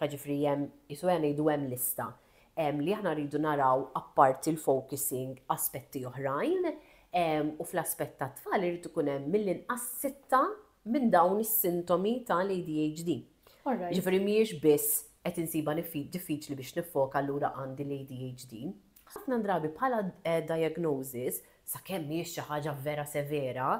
Jiġifieri hemm, qisu qiegħda ngħidu hemm lista li aħna rridu naraw apparti l-focusing aspetti oħrajn u fl-aspett tat-tfal irid ikun hemm mill-inqas sitta minn dawn is-sintomi tal-ADHD. Jiġifieri mhijiex biss qed insibha diffiċli biex niffoka allura għandi l-ADHD. Ħafna drabi bħala diagnosis, sakemm mhijiex xi ħaġa vera severa,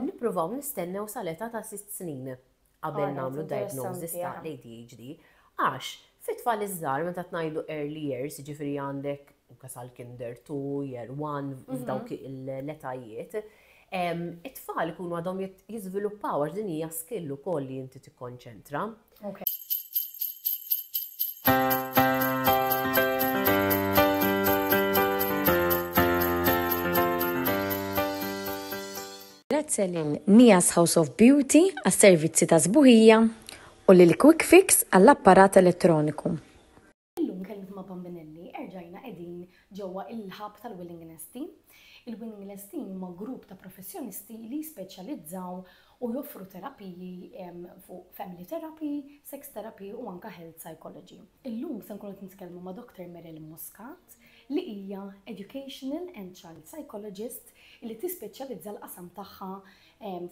nippruvaw nistennew sal-età ta' sitt snin. qabel nagħmlu diagnosis ta' l-ADHD għax fit-tfal iż-żgħar meta tnajdu early years, jiġifieri għandek anke sal-kinder two, year one, f'dawk l-etajiet, it-tfal ikunu għadhom jiżviluppaw għax din hija skill ukoll li inti tikkonċentra. Grazzi lil Nia's House of Beauty għas-servizzi ta' sbuħija u lil Quick Fix għall-apparat elettroniku. Illum kellimt ma' Bambinelli, erġajna qegħdin ġewwa il-hub tal-Willing Nesti. Il-Willing Nesti huma grupp ta' professjonisti li jispeċjalizzaw u joffru terapiji fuq family therapy, sex therapy u anke health psychology. Illum se nkunu qed nitkellmu ma' Doctor Meryl Muscat li hija educational and child psychologist li tispeċjalizza l-qasam tagħha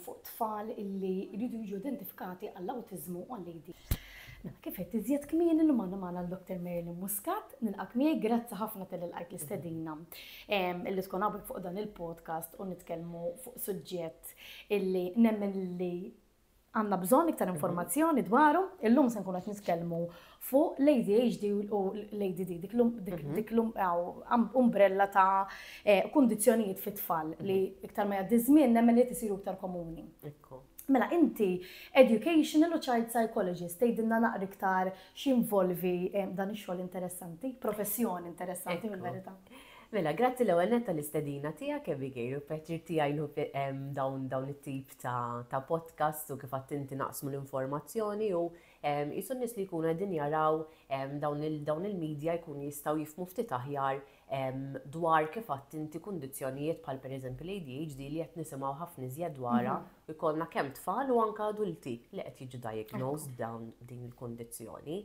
fuq tfal li jridu jiġu identifikati għall-awtiżmu u għall-ADHD. Mela, kif għedt iżjed kmieni llum għandna magħna l-Dr. Marilyn Muscat, nilqgħek miegħi, grazzi ħafna tal-li lqajt l-istedina li tkun hawnhekk fuq dan il-podcast u nitkellmu fuq suġġett illi nemmen li Għandna bżonn iktar informazzjoni dwaru. Illum se nkunu qed nitkellmu fuq l-ADHD u l-ADD, dik l-um, mhm. umbrella ta' eh, kondizjonijiet fit-tfal mhm. li iktar ma jgħaddi żmien nemmen li tisiru iktar komuni. Mela, inti educational u child psychologist, tgħidilna naqri iktar x'involvi eh, dan ix-xogħol interessanti, professjoni interessanti mill-verità. Mela, grazzi l-ewwel netta l-istedina tiegħek Abigail u pjaċir tiegħi dawn dawn it-tip ta' ta' podcast u kif għadt inti naqsmu l-informazzjoni u qisu n-nies li jkunu qegħdin jaraw dawn il-media jkunu jistgħu jifhmu ftit aħjar dwar kif għadt inti kundizzjonijiet bħal pereżempju l-ADHD li qed nisimgħu ħafna iżjed dwarha u jkollna kemm tfal u anke adulti li qed jiġu diagnosed b'dawn din il-kundizzjoni.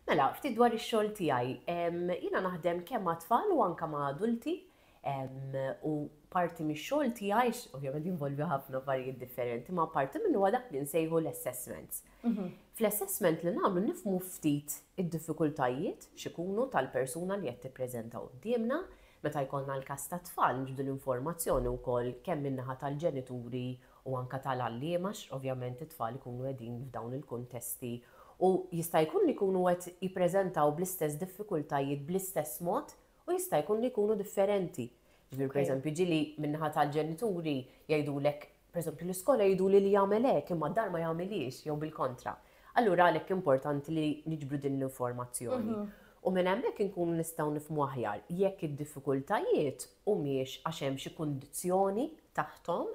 Mela, ftit dwar ix-xogħol tiegħi. Jiena naħdem kemm ma' tfal u anke ma' adulti U parti mix-xogħol tiegħi, ovvjament jinvolvi ħafna affarijiet differenti, ma parti minn huwa dak li nsejħu l-assessments. Mhm. Fl-assessment li nagħmlu nifmu ftit id-diffikultajiet x'ikunu tal-persuna li qed tippreżenta qudiemna, meta jkollna l-każ ta' tfal nġbdu l-informazzjoni wkoll kemm min-naħa tal-ġenituri u anke tal-għalliema għax ovvjament it-tfal ikunu qegħdin f'dawn il-kuntesti u jista' jkun li jkunu qed jippreżentaw bl-istess diffikultajiet bl-istess mod U jista' jkun li jkunu differenti. Ġifieri pereżempju ġieli min-naħa tal-ġenituri jgħidulek, pereżempju l-iskola jgħiduli li jagħmel hekk imma d-dar ma jagħmilhiex jew bil-kontra. Allura għalhekk importanti li niġbru din l-informazzjoni. U minn hemmhekk inkunu nistgħu nifhmu aħjar jekk id-diffikultajiet humiex għax hemm xi kundizzjoni taħthom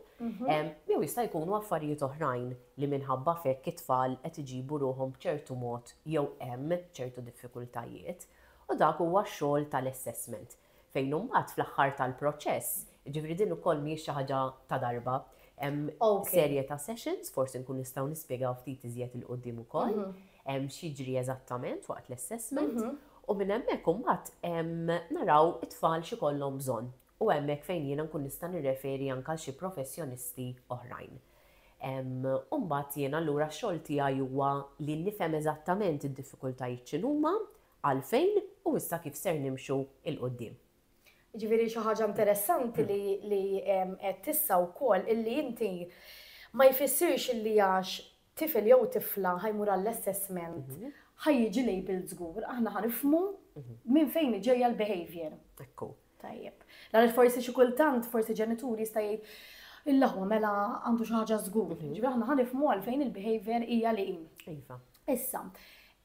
jew jista' jkunu affarijiet oħrajn li minħabba f'hekk it-tfal qed iġibu ruħhom b'ċertu mod jew hemm ċertu diffikultajiet. U dak huwa x-xogħol tal-assessment. Fejn imbagħad fl-aħħar tal-proċess, jiġifieri din ukoll mhijiex xi ħaġa ta' darba, hemm serje ta' sessions, forsi nkunu nistgħu nispjegaw ftit iżjed 'il quddiem ukoll x'jiġri eżattament waqt l-assessment, u minn hemmhekk imbagħad naraw it-tfal x'ikollhom bżonn. u hemmhekk fejn jiena nkun nista' nirreferi anke għal xi professjonisti oħrajn. U mbagħad jiena allura x-xogħol tiegħi huwa li nifhem eżattament id-diffikultajiet x'inhuma, għalfejn u issa kif ser nimxu 'l quddiem. Jiġifieri xi ħaġa interessanti li għedt issa wkoll illi inti ma jfissirx illi għax tifel jew tifla ħa jmur għall-assessment, ħa jiġi labelled żgur, aħna ħa nifhmu minn fejn hi ġejja l-behaviour. Ekku. Tajjeb. Għaliex forsi xi kultant forsi ġenitur jista' jgħid il-laħwa mela għandu xi ħaġa żgur. Mhm. Ġifieri aħna ħa nifhmu għalfejn il-behaviour hija li hi. Iva. Issa,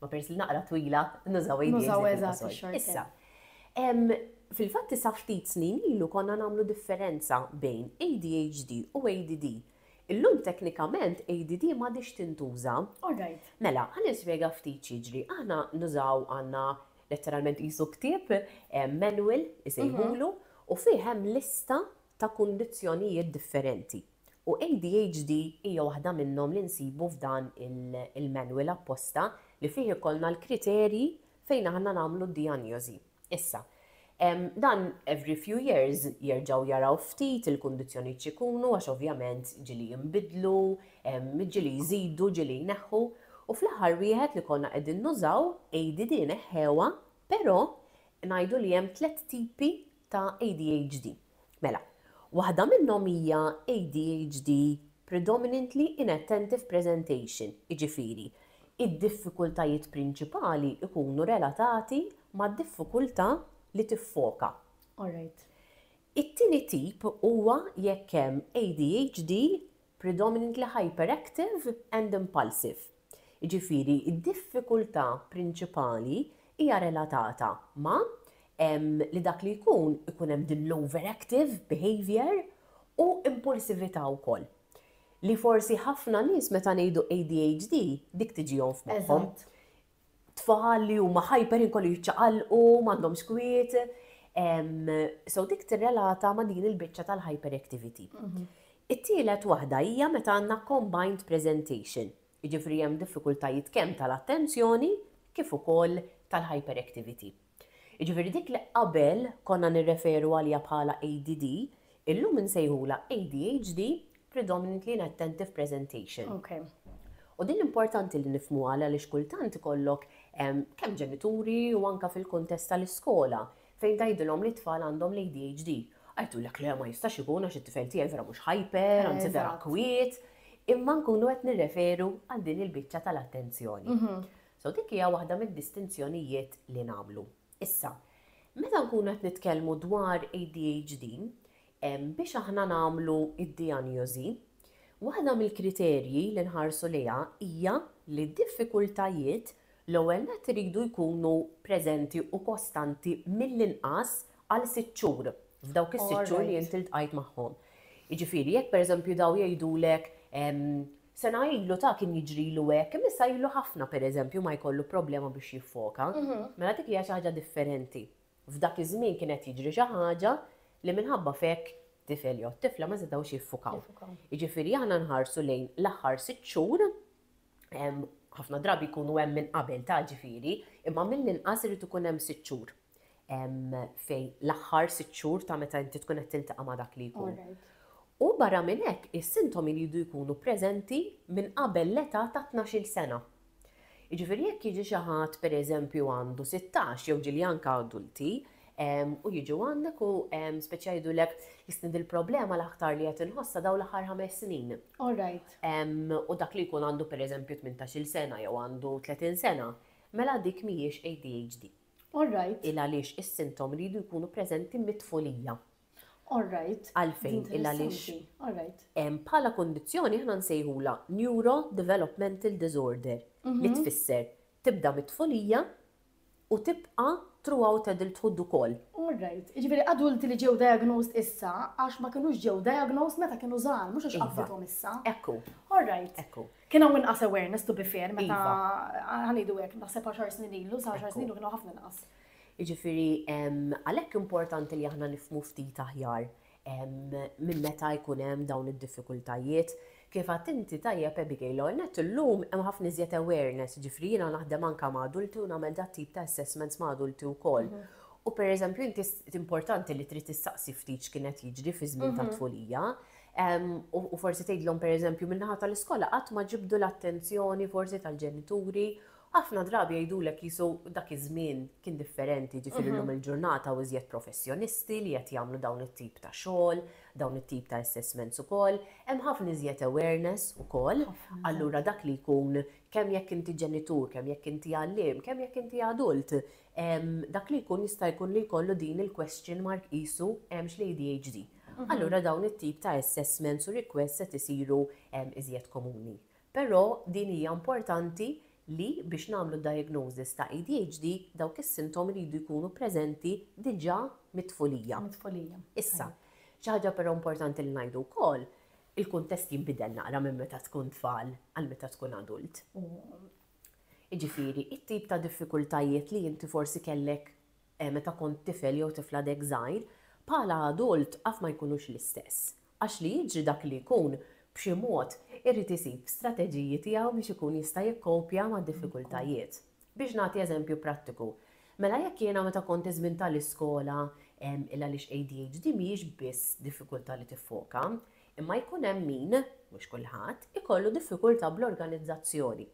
Ma peress li naqra twila, nużaw ADHD fil-qosor. Nużaw eżatt ix-xorthand. Issa, fil-fatt issa ftit snin ilu konna nagħmlu differenza bejn ADHD u ADD. Illum teknikament ADD m'għadhiex tintuża. All right. Mela, ħa nispjega ftit x'jiġri. Aħna nużaw għandna letteralment qisu ktieb, manual isejħulu, u fih hemm lista ta' kundizzjonijiet differenti. U ADHD hija waħda minnhom li nsibu f'dan il-manual apposta li fih ikollna l-kriterji fejn aħna nagħmlu d-dijanjożi. Issa, dan every few years jerġgħu jaraw ftit il-kundizzjonijiet x'ikunu għax ovvjament ġieli jinbidlu, ġieli jżidu, ġieli jneħħu u fl-aħħar wieħed li konna qegħdin nużaw, ADD neħħewha, però ngħidu li hemm tliet tipi ta' ADHD. Mela, waħda minnhom hija ADHD predominantly inattentive presentation, jiġifieri, id-diffikultajiet prinċipali jkunu relatati mad-diffikultà li tiffoka. All right. It-tieni tip huwa jekk hemm ADHD predominantly hyperactive and impulsive, jiġifieri d-diffikultà prinċipali hija relatata ma' li dak li jkun ikun hemm din l-overactive behaviour u impulsività wkoll. Li forsi ħafna nies meta ngħidu ADHD dik tiġihom f'moħħhom. tfal li huma ħajper inkollu jiċċaqalqu, m'għandhomx kwiet. So dik tirrelata ma' din il-biċċa tal-hyperactivity. Mhm. It-tielet waħda hija meta għandna combined presentation, jiġifieri hemm diffikultajiet kemm tal-attenzjoni kif ukoll tal-hyperactivity. Jiġifieri dik li qabel konna nirreferu għaliha bħala ADD, illum insejħulha ADHD, Predominantly Inattentive Presentation. U din importanti li nifhmuha għaliex kultant ikollok kemm ġenituri u anke fil-kuntest tal-iskola fejn tgħidilhom li t-tfal għandhom l-ADHD. Qed jgħidulek le ma jistax ikun għax it-tifel tiegħi vera mhux hyper, anzi vera kwiet. Imma nkunu qed nirreferu għal din il-biċċa tal-attenzjoni. So dik hija waħda mid-distinzjonijiet li nagħmlu. Issa, meta nkunu qed nitkellmu dwar ADHD, biex aħna nagħmlu d-dijanjosi, waħda mill-kriterji li nħarsu lejha hija li d-diffikultajiet l-ewwel nett iridu jkunu preżenti u kostanti mill-inqas għal sitt xhur, f'dawk is-sitt xhur li int iltqajt magħhom. Jiġifieri jekk pereżempju dawn jgħidulek Sena ilu ta' kien jiġrilu hekk, imma issa ilu ħafna pereżempju ma jkollu problema biex jiffoka. Mela dik hija xi ħaġa differenti. F'dak iż-żmien kien qed jiġri xi ħaġa li minħabba f'hekk tifel jew tifla ma setgħux jiffukaw. Jiġifieri aħna nħarsu lejn l-aħħar sitt xhur, ħafna drabi jkunu hemm minn qabel ta' ġifieri, imma mill-inqas irid ikun hemm sitt xhur. fejn l-aħħar sitt xhur ta' meta inti tkun qed tiltaqa' ma' dak li jkun. U barra minn hekk, is-sintomi li jridu jkunu preżenti minn qabel l-età ta' tnax-il sena. Jiġifieri jekk jiġi xi ħadd pereżempju għandu sittax jew ġieli anke adulti u jiġu għandek u spiċċa jgħidulek jistni dil-problema l-aktar li qed inħossha dawn l-aħħar ħames snin. U dak li jkun għandu pereżempju tmintax-il sena jew għandu tletin sena, mela dik mhijiex ADHD. All right. Il għaliex is-sintom iridu jkunu preżenti mit-tfulija. All right. Għalfejn il għaliex. All right. Bħala kundizzjoni aħna nsejħulha neurodevelopmental disorder li tfisser tibda mit-tfulija u tibqa' throughout adulthood ukoll. All right. Jiġifieri adulti li ġew diagnosed issa għax ma kinux ġew diagnosed meta kienu żgħar, mhux għax qabdithom issa. Hekk hu. All right. Hekk hu. Kien hawn inqas awareness to be fair meta iva. ħanidu hekk naħseb għaxar snin ilu, sa għaxar snin ilu kienu ħafna inqas. Jiġifieri għalhekk importanti li aħna nifmu ftit aħjar minn meta jkun hemm dawn id-diffikultajiet. Kif għad inti tajjeb Abigail Ornet illum hemm ħafna iżjed awareness, ġifri jiena naħdem anke ma' adulti u nagħmel dat tip ta' assessments ma' adulti wkoll. Mhm. U pereżempju inti importanti li trid tistaqsi ftit x'kienet jiġri fi żmien mhm. ta' tfulija, U forsi tgħidlhom pereżempju min-naħa tal-iskola qatt ma ġibdu l-attenzjoni forsi tal-ġenituri. Ħafna drabi jgħidulek qisu dak iż-żmien kien differenti, ġifieri llum il-ġurnata hawn iżjed professjonisti li qed jagħmlu dawn it-tip ta' xogħol, dawn it-tip ta' assessments ukoll. Hemm ħafna iżjed awareness ukoll. Allura dak li jkun, kemm jekk inti ġenitur, kemm jekk inti għalliem, kemm jekk inti adult, dak li jkun jista' jkun li jkollu din il-question mark qisu hemmx l-ADHD. allura dawn it-tip ta' assessments u requests qed isiru iżjed komuni. Però din hija importanti li biex nagħmlu diagnosis ta' ADHD dawk is-sintomi jridu jkunu preżenti diġà mit-tfulija. Mit-tfulija. Issa, xi ħaġa però importanti li ngħidu wkoll, il-kuntest jinbidel naqra minn meta tkun tfal għal meta tkun adult. Jiġifieri, it-tip ta' diffikultajiet li inti forsi kellek meta kont tifel jew tifla dehekk żgħir, bħala adult af ma jkunux l-istess. Għax li jiġri dak li jkun, b'xi mod, irid isib strateġiji tiegħu biex ikun jista' jikkopja mad-diffikultajiet. Biex nagħti eżempju prattiku, mela jekk jiena meta kont iż-żmien ta' l-iskola, il għaliex ADHD mhijiex biss diffikultà li tiffoka, imma jkun hemm min, mhux kulħadd, ikollu diffikultà bl-organizzazzjoni.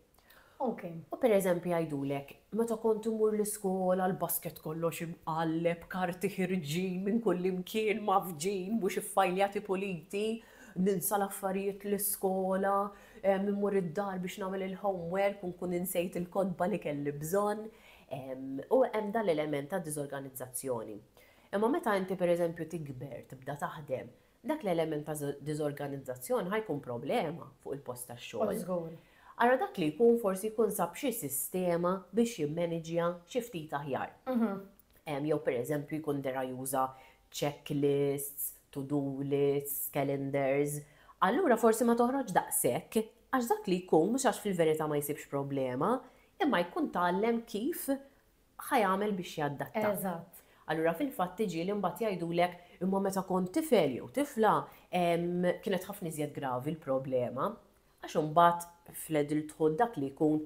Ok, u per eżempju jgħidulek, meta kont immur l-iskola l-basket kollox imqalleb, karti ħirġin minn kullimkien, mgħaffġin, mhux iffajljati puliti, ninsa l-affarijiet l-iskola, immur id-dar biex nagħmel il-homework u nkun insejt il-kotba li kelli bżonn. U hemm dan l-element ta' diżorganizzazzjoni. Imma meta inti per eżempju tikber, tibda taħdem, Dak l-element ta' diżorganizzazzjoni ħa jkun problema fuq il-post tax-xogħol. Ara dak li jkun forsi jkun sab xi sistema biex jimmaniġja xi ftit aħjar. Jew pereżempju jkun dera juża checklists, to-do lists, calendars. Allura forsi ma toħroġx daqshekk għax dak li jkun mhux għax fil-verità ma jsibx problema imma jkun tgħallem kif ħa jagħmel biex jadatta. Eżatt. Allura fil-fatt tiġi li mbagħad jgħidulek imma meta kont tifel jew tifla kienet ħafna iżjed gravi l-problema għax imbagħad fl-adulthood dak li jkun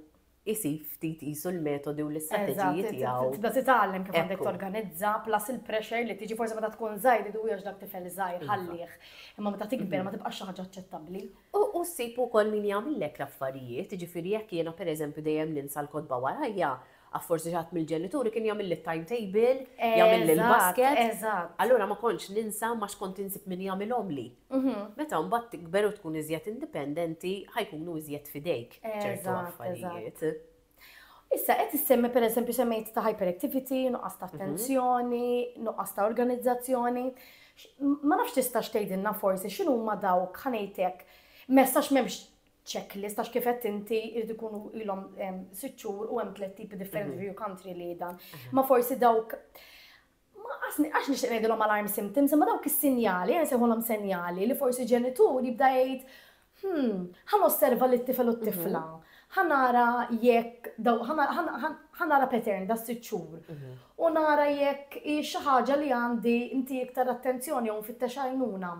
isib ftit qisu l-metodi u l-istrateġiji tiegħu. Tibda titgħallem kif għandek torganizza, plus il-pressure li tiġi forsi meta tkun żgħir idu għax dak tifel żgħir ħallih. Imma meta tikber mhm. ma tibqax xi ħaġa aċċettabbli. U ssib ukoll min jagħmillek l-affarijiet, jiġifieri jekk jiena pereżempju dejjem ninsa l-kotba warajja, Għax forsi xi ħadd mill-ġenituri kien jagħmilli t-timetable, jagħmilli l-basket. Allura ma kontx ninsa m'għax kont insib min jagħmilhomli. Meta mbagħad tikber u tkun iżjed indipendenti, ħa jkunu iżjed f'idejk ċertu affarijiet. Issa qed issemmi pereżempju semmejt ta' hyperactivity, nuqqas ta' attenzjoni, nuqqas ta' organizzazzjoni. Ma nafx tistax tgħidilna forsi x'inhuma dawk, ħa ngħid hekk, messax m'hemmx checklist, għax kif qed inti jrid ikunu ilhom sitt xhur u hemm tliet tipi differenti mhm. view country li dan. Mhm. Ma forsi dawk għax nixtieq ngħidilhom alarm symptoms, imma dawk is-sinjali, għan seħolhom senjali li forsi ġenitur jibda jgħid, hmm, ħan osserva li t-tifel u t-tifla, mhm. ħanara jekk, ħa nara pattern da sitt xhur u nara jekk hi xi ħaġa li għandi nti iktar attenzjoni jew nfittex għajnuna.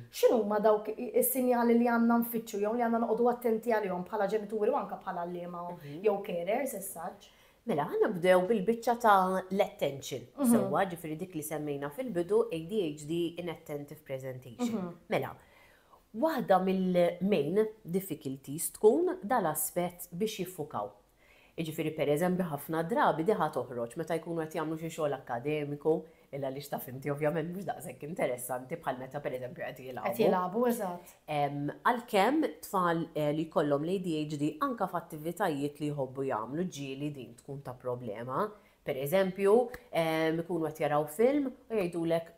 X'inhuma dawk is-sinjali li għandna nfittxu jew li għandna noqogħdu attenti għalihom bħala ġenituri u anke bħala għalliema jew carers as such? Mela, ħa nibdew bil-biċċa ta' l-attention sewwa, ġifieri dik li semmejna fil-bidu, ADHD, inattentive presentation. Mela, waħda mill-main difficulties tkun da l-aspett biex jiffukaw. Jiġifieri pereżempju ħafna drabi diha toħroġ meta jkunu qed jagħmlu xi xogħol akkademiku, illa għaliex taf inti ovvjament mhux daqshekk interessanti bħal meta pereżempju qed jilgħabu. Qed jilgħabu, eżatt. Għalkemm tfal li jkollhom l-ADHD anke f'attivitajiet li jħobbu jagħmlu ġieli din tkun ta' problema. Pereżempju, ikunu qed jaraw film u jgħidulek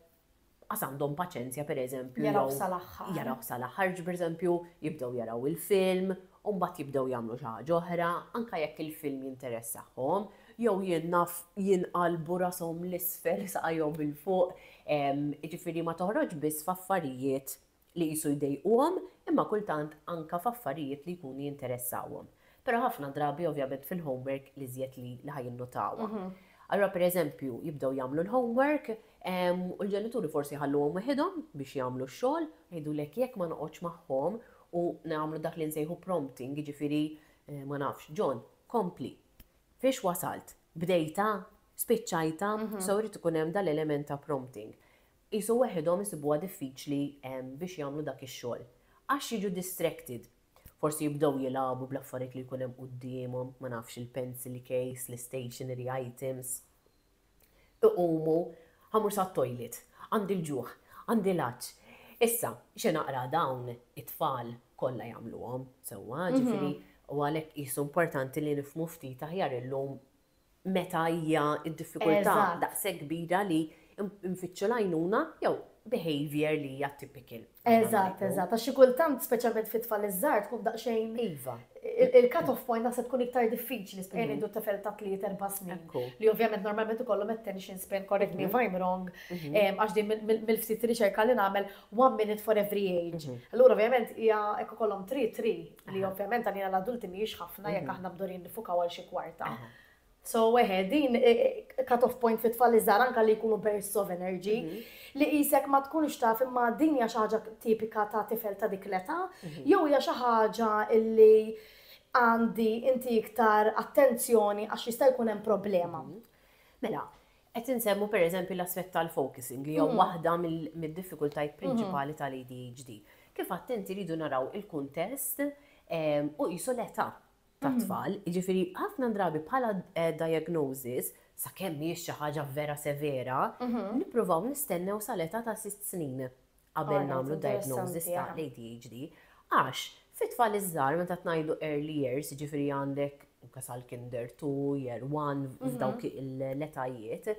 qas għandhom paċenzja pereżempju Jarawh sal-aħħar. Jarawh sal-aħħar, ġi pereżempju jibdew jaraw il-film u mbagħad jibdew jagħmlu xi ħaġa oħra, anke jekk il-film jinteressahom, jew jien naf jinqalbu rashom 'l isfel saqajhom 'il fuq, jiġifieri ma toħroġx biss f'affarijiet li qisu jdejquhom imma kultant anka f'affarijiet li jkunu jinteressawhom. Però ħafna drabi ovvjament fil-homework l-iżjed li li ħa jinnotawha. Allura pereżempju jibdew jagħmlu l-homework u l-ġenituri forsi jħalluhom weħidhom biex jagħmlu x-xogħol, jgħidulek jekk ma noqgħodx magħhom u nagħmlu dak li nsejħu prompting jiġifieri ma nafx, John, kompli. Fiex wasalt? Bdejtha? Spiċċajtha? So jrid ikun hemm dal-element ta' prompting. qisu weħidhom isibuha diffiċli biex jagħmlu dak ix-xogħol għax jiġu distracted. Forsi jibdew jilagħbu bl-affarijiet li jkun hemm quddiemhom, ma nafx il-pencil case, l-istationery items. Iqumu, Ħa mmur sat-toilet, għandi l-ġuħ, għandi l-għatx. Issa, xi naqra dawn it-tfal kollha jagħmluhom sewwa, ġifieri huwa għalhekk qisu importanti li nifhmu ftit aħjar illum meta hija d-diffikultà daqshekk kbira li nfittxu l-għajnuna jew behaviour li hija typical. Eżatt, eżatt, għax xi kultant speċjalment fit-tfal iż-żgħar tkun daqsxejn Iva. Il-cut off point naħseb tkun iktar diffiċli speċjalment ngħidu tifel ta' tliet erba' snin li ovvjament normalment ikollhom attention span, correct me if I'm wrong, għax din mill-ftit riċerka li nagħmel one minute for every age. Allura ovvjament hija jekk ikollhom three, three. Li ovvjament għalina l-adulti mhijiex ħafna jekk mhm. aħna bdurin nifukaw għal xi kwarta. So, weħe, din e, e, cut-off point fit tfal iżgħar anka li jkunu bursts of energy, mhm. li jisek ma tkunx taf imma din hija xi ħaġa tipika ta' tifel ta' dik l-età, mhm. jew hija xi ħaġa illi għandi inti iktar attenzjoni għax jista' jkun hemm problema. Mela, Qed insemmu pereżempju l-aspett tal-focusing li hija waħda mid-diffikultajiet prinċipali tal-ADHD. Kif għedt inti rridu naraw il-kuntest u qisu l-età tat-tfal, jiġifieri ħafna drabi bħala diagnosis, sakemm mhijiex xi ħaġa vera severa, nippruvaw nistennew sal-età ta' sitt snin. qabel nagħmlu diagnosis ta' l-ADHD għax fit-tfal iż-żgħar meta tnajdu early years, jiġifieri għandek anke sal-kinder two, year one, f'dawk l-etajiet,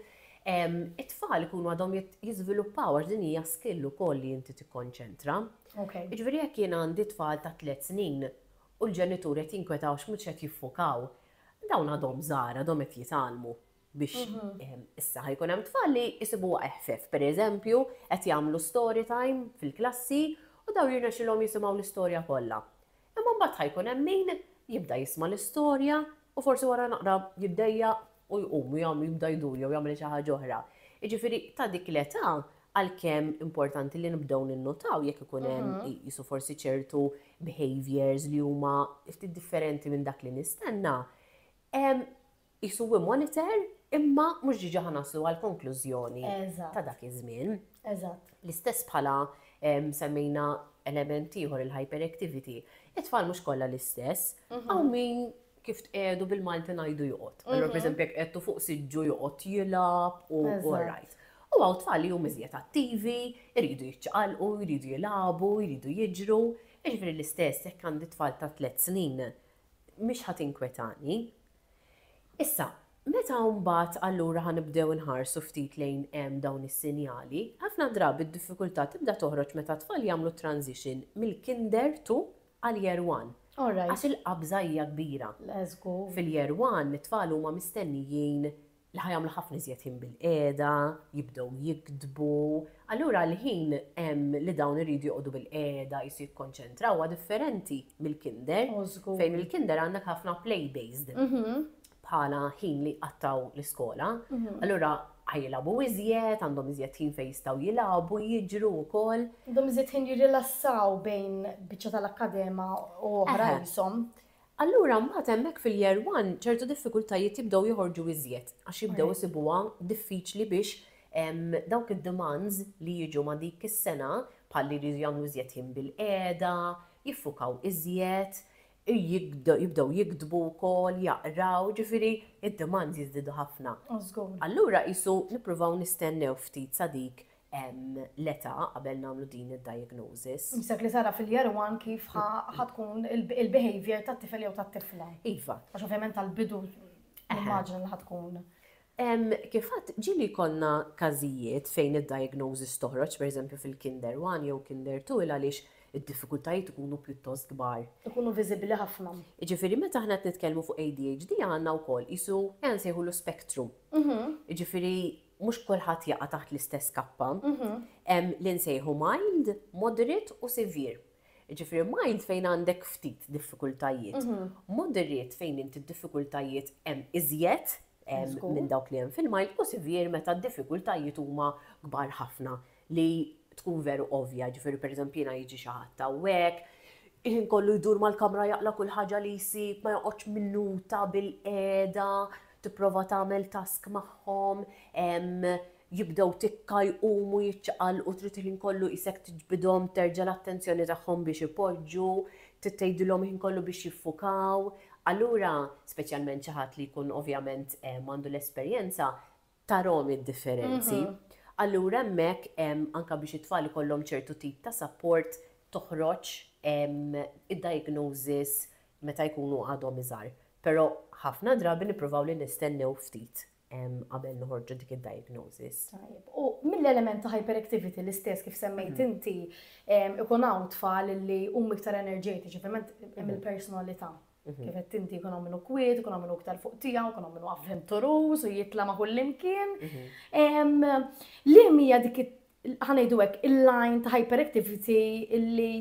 it-tfal ikunu għadhom jiżviluppaw għax din hija skill ukoll li inti tikkonċentra. Jiġifieri jekk jien għandi tfal ta' tliet snin u l-ġenitur qed jinkweta għax mhux qed jiffukaw, dawn għadhom żgħar, għadhom qed jitgħallmu. biex issa ħajkun hemm tfal li jisibuha eħfef. Per eżempju, qed jagħmlu story time fil-klassi u daw jirnexxilhom jisimgħu l-istorja kollha. Imma mbagħad ħajkun hemm min jibda jisma' l-istorja u forsi wara naqra jiddejjaq u jqum u jibda jdur jew jagħmel xi ħaġa oħra. Jiġifieri ta' dik l-età għalkemm importanti li nibdew ninnutaw jekk ikun hemm qisu forsi ċertu behaviors li huma ftit differenti minn dak li nistenna, Qisu hu monitor imma mhux diġà ħa naslu għall-konklużjoni ta' dak iż-żmien. Eżatt. L-istess bħala semmejna element ieħor il-hyperactivity. It-tfal mhux kollha l-istess, hawn min kif tqiegħdu bil-Malti ngħidu joqgħod. Allura pereżempju jekk qegħdtu fuq siġġu joqgħod jilgħab u right. U hawn tfal li huma iżjed attivi, iridu jiċċaqalqu, jridu jilagħbu, jridu jiġru. Jiġifieri l-istess jekk għandi tfal ta' tliet snin mhix ħa tinkwetani. Issa, meta mbagħad allura ħa nibdew inħarsu ftit lejn dawn is-sinjali, ħafna drabi d-diffikultà tibda toħroġ meta t-tfal jagħmlu t-transition mill-kinder to għal year one. Għax il-qabża hija kbira. Fil-year one, it-tfal huma mistennijin li ħa jagħmlu ħafna iżjed ħin bilqiegħda, jibdew jiktbu, allura l-ħin li dawn iridu joqogħdu bilqiegħda jisu jikkonċentraw huwa differenti mill-kinder. Oh, fejn il-kinder għandek ħafna play based mhm. bħala ħin li qattaw l-iskola. Mhm. Allura ħajjilabu iżjed, għandhom iżjed ħin fejn jistgħu jilagħbu, jiġru wkoll. Għandhom iżjed ħin jirrilassaw bejn biċċa tal-akkadema u oħra jisom. Eh, Allura mbagħad hemmhekk fil-year one ċertu diffikultajiet jibdew joħorġu iżjed għax jibdew isibuha diffiċli biex dawk id-demands li jiġu ma' dik is-sena bħal li jridu jagħmlu iżjed ħin bil-qiegħda, jiffukaw iżjed, jibdew jiktbu wkoll, jaqraw, jiġifieri d-demands jiżdiedu ħafna. Allura qisu nippruvaw nistennew ftit sa dik l-età qabel nagħmlu din id-diagnosis. Qisek li tara fil-year one kif ħa tkun il-behavior tat-tifel jew tat-tifla. Iva. Għax ovvjament tal-bidu nimmaġina li ħa tkun. Kif għad ġieli jkollna każijiet fejn id-diagnosis toħroġ pereżempju fil-kinder one jew kinder two il għaliex id-diffikultajiet ikunu pjuttost kbar. Ikunu viżibbli ħafna. Jiġifieri meta aħna qed nitkellmu fuq ADHD għandna wkoll qisu ejja nsejħulu spectrum. Jiġifieri mhux kulħadd jaqa' taħt l-istess kappa. Mhm. Hemm li nsejħu mild, moderate u severe. Ġifieri mild fejn għandek ftit diffikultajiet. Mhm. Moderate fejn inti d-diffikultajiet hemm iżjed minn dawk li hemm fil-mild u severe meta d-diffikultajiet huma kbar ħafna. li tkun veru ovvja, jiġifieri pereżempju jiena jiġi xi ħadd hawnhekk, il-ħin kollu jdur mal-kamra jaqla' kull ħaġa li jsib, ma joqgħodx minuta bilqiegħda tipprova tagħmel task magħhom, jibdew tikka jqumu jiċċaqalqu trid il-ħin kollu qisek tiġbidhom terġa' l-attenzjoni tagħhom biex ipoġġu, trid tgħidilhom il-ħin kollu biex jiffukaw. Allura, speċjalment xi ħadd li jkun ovvjament m'għandu l-esperjenza, tarahom id-differenzi. Allura hemmhekk hemm anke biex it-tfal ikollhom ċertu tip ta' sapport toħroġ id-diagnosis meta jkunu għadhom iżgħar. Però ħafna drabi nippruvaw li nistennew ftit qabel noħorġu dik id-diagnosis. Tajjeb. U mill-element ta' hyperactivity l-istess kif semmejt inti, ikun hawn tfal li huma iktar enerġetiċi, ovvjament hemm il-personalità Kif qed inti jkun minnu kwiet, jkun minnu iktar fuq tiegħu, jkun minnu avventuruż u jitla ma' kullimkien. Li mija dik ħanejdu hekk il-line ta' hyperactivity illi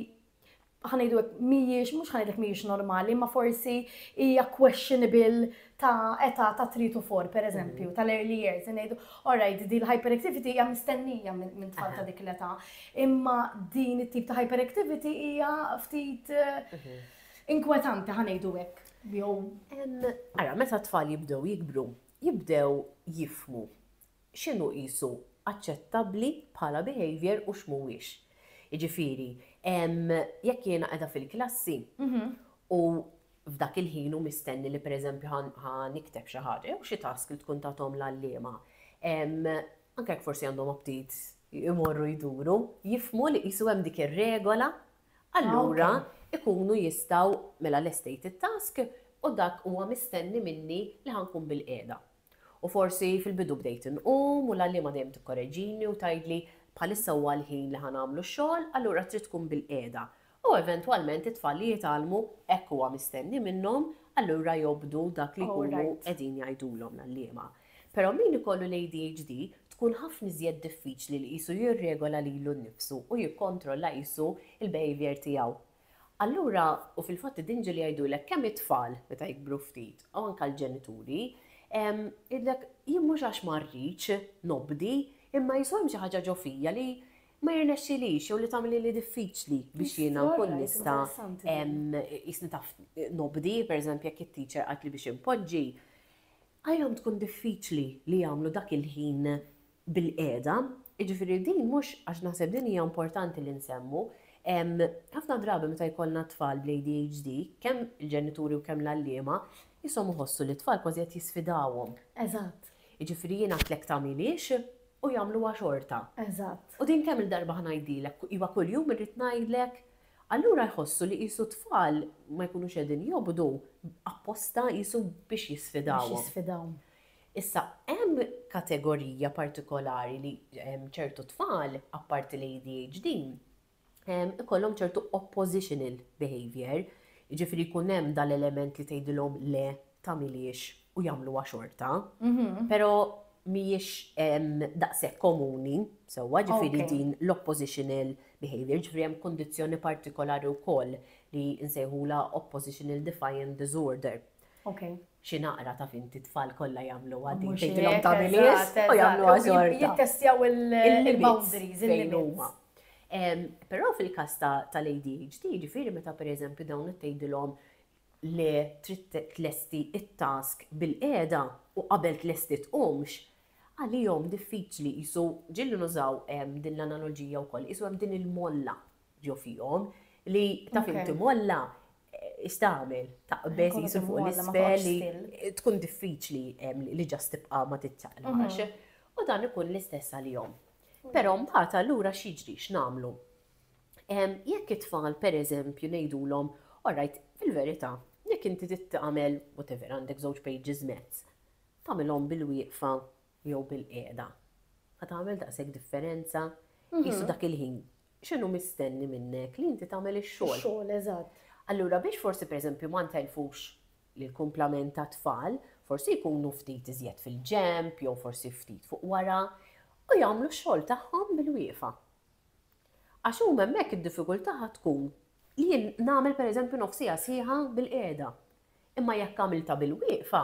ħanejdu hekk mhijiex, mhux ħanejdlek mhijiex normali, ma forsi hija questionable ta' età ta' 3 to 4, per eżempju, mhm. tal-early years, ngħidu, alright, di l-hyperactivity hija mistennija minn tfal ta' dik l-età, imma din it-tip ta' hyperactivity hija ftit mhm. Inkwetanti ħa ngħidu hekk, jew. Ara, meta t-tfal jibdew jikbru, jibdew jifhmu x'inhu qisu aċċettabbli bħala behaviour u x'mhuwiex. Jiġifieri, jekk jiena qiegħda fil-klassi u f'dak il-ħin hu mistenni li pereżempju ħa nikteb xi ħaġa jew xi task li tkun tagħthom l-għalliema, anke jekk forsi għandhom aptit imorru jduru, jifhmu li qisu hemm dik ir-regola Allura jkunu jistgħu, mela lestejt it-task u dak huwa mistenni minni li ħa nkun bilqiegħda. U forsi fil-bidu bdejt inqum u l-għalliema dejjem tikkoreġini u tgħidli bħalissa huwa l-ħin li ħa nagħmlu x-xogħol, allura trid tkun bilqiegħda. U eventwalment it-tfal li jitgħallmu hekk huwa mistenni minnhom, allura jobdu dak li jkunu qegħdin jgħidulhom l-għalliema. Però min ikollu l-ADHD tkun ħafna iżjed diffiċli li qisu jirregola lilu nnifsu u jikkontrolla qisu l-behaviour tiegħu. Allura, u fil-fatt id-dnġil jgħidulek kemm it-tfal meta jikbru ftit u anke l-ġenituri, jgħidlek jien mhux għax ma rridx nobdi imma qisu hemm xi ħaġa ġo fija li ma jirnexxilix jew li tagħmlilha diffiċli biex jiena nkun nista' qisni taf nobdi, pereżempju jekk it-teacher qaltli biex inpoġġi, Għalihom tkun diffiċli li jagħmlu dak il-ħin bilqiegħda. Jiġifieri din mhux, għax naħseb din hija importanti li nsemmu, ħafna drabi meta jkollna tfal bl-ADHD, kemm il-ġenituri u kemm l-għalliema, qishom iħossu li t-tfal kważi qed jisfidawhom. Eżatt. Jiġifieri jien għidtlek tagħmilhiex u jagħmluha xorta. Eżatt. U din kemm-il darba ħa ngħidilek, iva kuljum irrid ngħidlek Allura jħossu li qisu t-tfal ma jkunux qegħdin jobdu apposta qisu biex jisfidawhom. Biex jisfidawhom. Issa hemm kategorija partikolari li ċertu tfal, apparti l-ADHD, ikollhom ċertu oppositional behaviour, jiġifieri jkun hemm dal-element li tgħidilhom le tagħmilhiex u jagħmluha xorta, però mhijiex daqshekk komuni, sewwa ġifieri din l-oppositional behaviour, ġifieri hemm kundizzjoni partikolari wkoll li nsejħulha oppositional defiant disorder. Xi naqra taf inti t-tfal kollha jagħmluha din tgħidilhom tagħmilhiex u jagħmluha xorta. Jittestjaw il-boundaries, il-limits. Però fil-każ tal-ADHD, ġifieri meta pereżempju dawn qed tgħidilhom li trid tlesti t-task bilqiegħda u qabel tlesti tqumx, għalihom diffiċli qisu, ġieli nużaw din l-analoġija wkoll, qisu hemm din il-molla ġo fihom li taf inti molla x'tagħmel, taqbeż qisu fuq l-isfel li tkun diffiċli li just tibqa' ma tiċċaqlax. U dan ikun l-istess għalihom. Però mbagħad allura x'jiġri, x'nagħmlu? Jekk it-tfal pereżempju ngħidulhom, all right, fil-verità, jekk inti trid tagħmel whatever, għandek żewġ pages mezz, tagħmilhom bil-wieqfa jew bil-qiegħda, ħa tagħmel daqshekk differenza? Qisu dak il-ħin, x'inhu mistenni minnek li inti tagħmel ix-xogħol? Ix-xogħol, eżatt. Allura biex forsi pereżempju ma ntellfux l-kumplament tat-tfal, forsi jkunu ftit iżjed fil-ġenb jew forsi ftit fuq wara u jagħmlu x-xogħol tagħhom bil-wieqfa. Għax huma hemmhekk id-diffikultà ħa tkun li jien nagħmel pereżempju nofsiegħa sħiħa bil-qiegħda. Imma jekk għamiltha bil-wieqfa,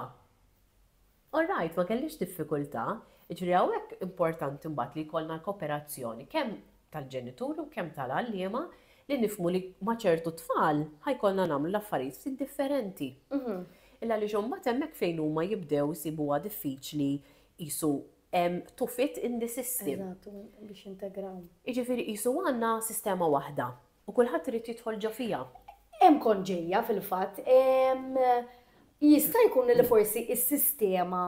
all right, ma kellix diffikultà. Jiġifieri hawnhekk importanti mbagħad li jkollna l-koperazzjoni kemm tal-ġenituri u kemm tal-għalliema li nifhmu li ma' ċertu tfal ħa jkollna nagħmlu l-affarijiet ftit differenti. Għaliex imbagħad hemmhekk fejn huma jibdew isibuha diffiċli qisu to fit in the system. Eżatt, biex jintegraw. Jiġifieri qisu għandna sistema waħda u kulħadd irid jidħol ġo fiha. Hemm kont ġejja fil-fatt, jista' jkun li forsi s-sistema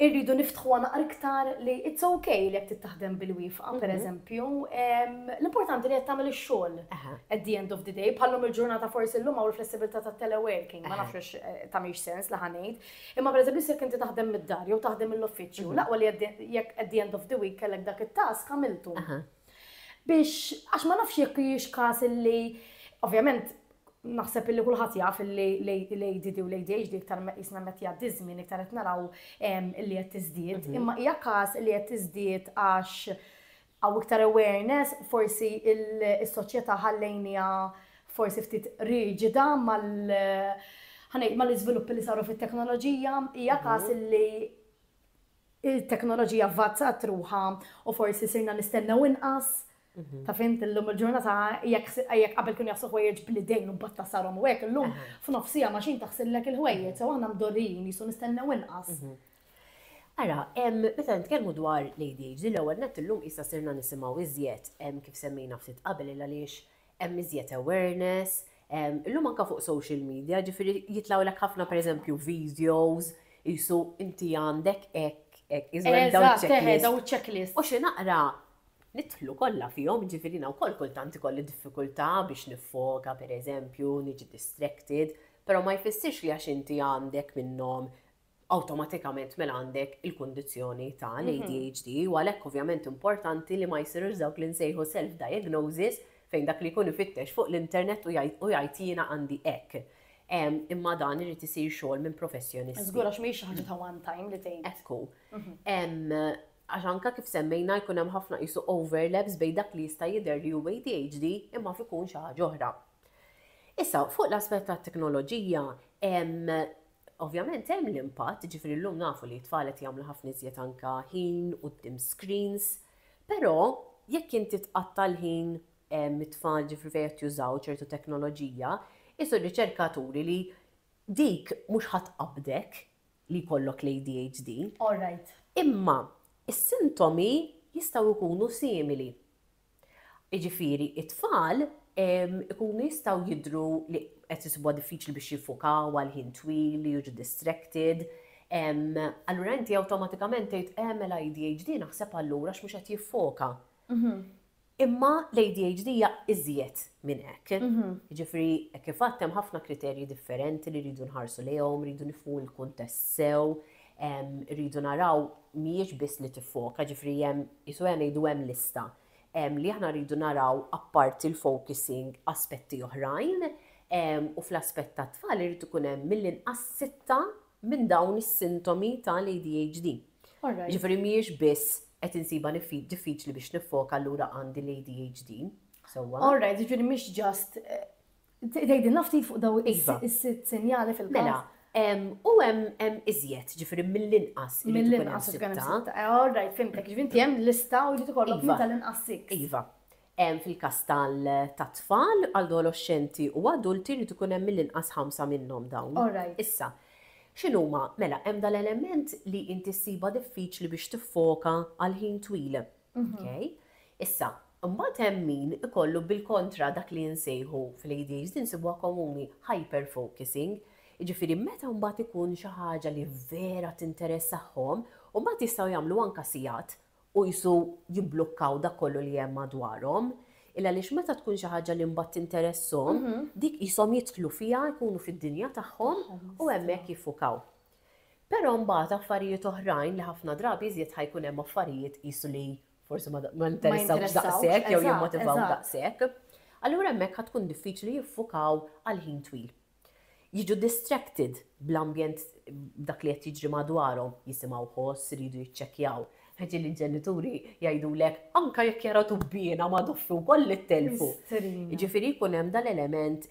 irridu niftħuha naqra iktar li it's okay li qed tittaħdem bil-wifqa, mhm. pereżempju, l-importanti li qed tagħmel ix-xogħol at the end of the day, bħallum il-ġurnata forsi llum hawn il-flessibilità tat-teleworking, ma nafx eh, tagħmilx sens li ħanejt, Imma pereżempju jekk inti taħdem mid-dar jew taħdem mill-uffiċċju, mhm. l-aqwa li jekk at the end of the week kellek dak it-task għamiltu. Biex għax ma nafx jekk hijiex każ illi ovvjament naħseb illi kulħadd jaf illi l-ADD u l-ADHD iktar jisna met jgħaddi żmien iktar qed naraw illi qed tiżdied, mhm. imma hija każ li qed tiżdied għax Hawn iktar awareness, forsi is-soċjetà ħallejniha forsi ftit riġida mal ħa ngħid mal-iżviluppi li saru fit-teknoloġija, hija każ li t-teknoloġija avvazzat ruħha u forsi sirna nistennew inqas, taf int illum il-ġurnata jekk qabel kienu jaħslu ħwejjeġ bl-idejn u mbagħad tasarhom u hekk illum f'nofs siegħa machine taħsillek il-ħwejjeġ, sew aħna mdorrijin qisu nistennew inqas. Ara, meta nitkellmu dwar l-ADHD, l-ewwel nett illum qisha sirna nisimgħu iżjed, kif semmejna ftit qabel, il għaliex hemm iżjed awareness, illum anke fuq social media, ġifieri jitlgħulek ħafna pereżempju videos qisu inti għandek hekk, hekk, iżda dawn iċ-checklist. Dawn iċ-checklist. U xi naqra nidħlu kollha fihom, ġifieri jiena wkoll kultant ikolli diffikultà biex niffoka pereżempju, niġi distracted, però ma jfissirx li għax inti għandek minnhom awtomatikament mela għandek il-kundizzjoni ta' l-ADHD u għalhekk ovvjament importanti li ma jsirux dawk li nsejħu self-diagnosis fejn dak li jkun ifittex fuq l-internet u jgħid jiena għandi hekk. Imma dan irid isir xogħol minn professjonist. Żgur għax mhijiex xi ħaġa ta' one time li tgħid. Ekku. Għax anke kif semmejna jkun hemm ħafna qisu overlaps bejn dak li jista' jidher li hu ADHD imma jaf ikun xi ħaġa oħra. Issa, fuq l-aspett tat-teknoloġija, Ovvjament hemm l-impatt, jiġifieri llum nafu li t-tfal qed jagħmlu ħafna iżjed anke ħin quddiem screens, però jekk inti tqatta' l-ħin mit-tfal jiġifieri fejn qed jużaw ċertu teknoloġija, qisu r-riċerka turi li dik mhux ħa tqabbdek li jkollok l-ADHD. All right. Imma s-sintomi jistgħu jkunu simili. Jiġifieri t-tfal ikunu jistgħu jidhru li qed isibuha diffiċli biex jiffukaw għal ħin twil, li jiġu distracted, allura inti awtomatikament tgħid eh mela ADHD naħseb allura għax mhux qed jiffoka. Imma l-ADHD hija iżjed minn hekk. Jiġifieri hekk kif għedt hemm ħafna kriterji differenti li rridu nħarsu lejhom, rridu nifhmu l-kuntest sew, rridu naraw mhijiex biss li tiffoka, ġifieri hemm qisu ejja ngħidu hemm lista li aħna rridu naraw apparti l-focusing aspetti oħrajn u fl-aspett tat-tfal irid ikun hemm mill-inqas sitta minn dawn is-sintomi tal-ADHD. Ġifieri mhijiex biss qed insibha diffiċli biex niffoka allura għandi l-ADHD. Sewwa? All right, ġifieri mhix just Tgħidilna ftit fuq daw iva. is-sitt sinjali fil-każ. Mela, U hemm iżjed, ġifieri mill-inqas. Mill-inqas ikun hemm sitta. Eh, all right, fimtek, ġifieri inti hemm lista u jrid ikollok iva. tal-inqas sitt. Iva. Hemm fil-każ tat-tfal, adolescenti u adulti jrid ikun hemm mill-inqas ħamsa minnhom dawn. All right. Issa, x'inhuma? Mela, hemm dal-element li inti ssiba diffiċli biex tiffoka għal ħin twil. Okay? Issa, mbagħad hemm min ikollu bil-kontra dak li nsejħu fl-ADHD nsibuha komuni hyper focusing. Jiġifieri meta mbagħad ikun xi ħaġa li vera tinteressahom, u mbagħad jistgħu jagħmlu anke sigħat u qisu jimblukkaw dak kollu li hemm madwarhom. Illa għaliex meta tkun xi ħaġa li mbagħad tinteresshom, mhm. dik qishom jidħlu fiha, jkunu fid-dinja tagħhom u hemmhekk jiffukaw. Però mbagħad affarijiet oħrajn li ħafna drabi iżjed ħa jkun hemm affarijiet qisu li forsi ma interessawx daqshekk jew jimmotivaw daqshekk. Allura hemmhekk ħa tkun diffiċli jiffukaw għal ħin twil. Jiġu distracted bl-ambjent b'dak li qed jiġri madwarhom, jisimgħu ħoss, iridu jiċċekkjaw. Ħaġa li l-ġenituri jgħidulek anke jekk jara tubbiena ma' doffi wkoll li ttelfu. Jiġifieri jkun hemm dal-element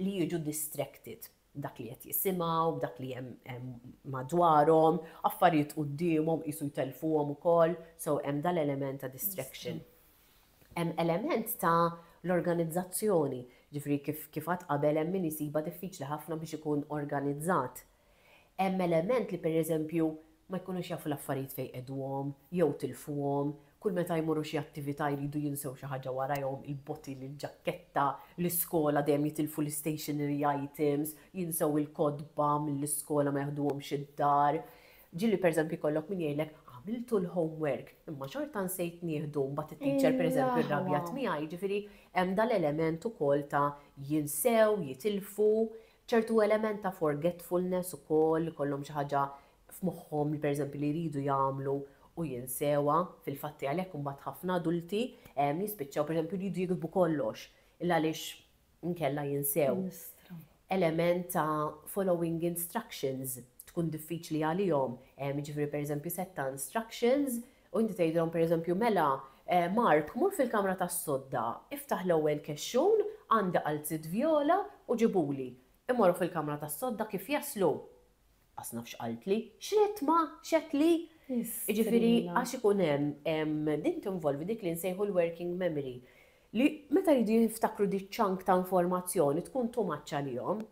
li jiġu distracted. b'dak li qed jisimgħu, b'dak li hemm madwarhom, affarijiet quddiemhom qisu jtellfuhom ukoll, so hemm dan l-element ta' distraction. Hemm element ta' l-organizzazzjoni, ġifri kif kif għad qabel hemm min isiba diffiċli ħafna biex ikun organizzat. Hemm element li pereżempju ma jkunux jafu l-affarijiet fejn qegħduhom, jew tilfuhom, Kull meta jmorru xi attività jridu jinsew xi ħaġa warajhom, il-bottle, il-ġakketta, l-iskola dejjem jitilfu l-istationery items, jinsew il-kotba mill-iskola ma jaħduhomx id-dar. Ġieli pereżempju jkollok min jgħidlek, għamiltu l-homework, imma xorta nsejt nieħdu, mbagħad it-teacher pereżempju rrabjat miegħi, jiġifieri hemm dal-element ukoll ta' jinsew, jitilfu, ċertu element ta' forgetfulness ukoll, ikollhom xi ħaġa f'moħħhom li pereżempju li jridu jagħmlu u jinsewha, fil-fatti għalhekk imbagħad ħafna adulti jispiċċaw pereżempju jridu jiktbu kollox illa għaliex inkella jinsew. Element ta' following instructions tkun diffiċli għalihom, jiġifieri pereżempju sett ta' instructions u inti tgħidilhom pereżempju mela Mark mur fil-kamra tas-sodda, iftaħ l-ewwel kexxun, għandi qalziet vjola u ġibhuli. Imorru fil-kamra tas-sodda kif jaslu Qas naf x'qaltli, x'ridt ma, x'għedt li? Jiġifieri għax ikun hemm, din tinvolvi dik li nsejħu l-working memory, li meta jridu jiftakru di chunk ta' informazzjoni tkun too much għalihom.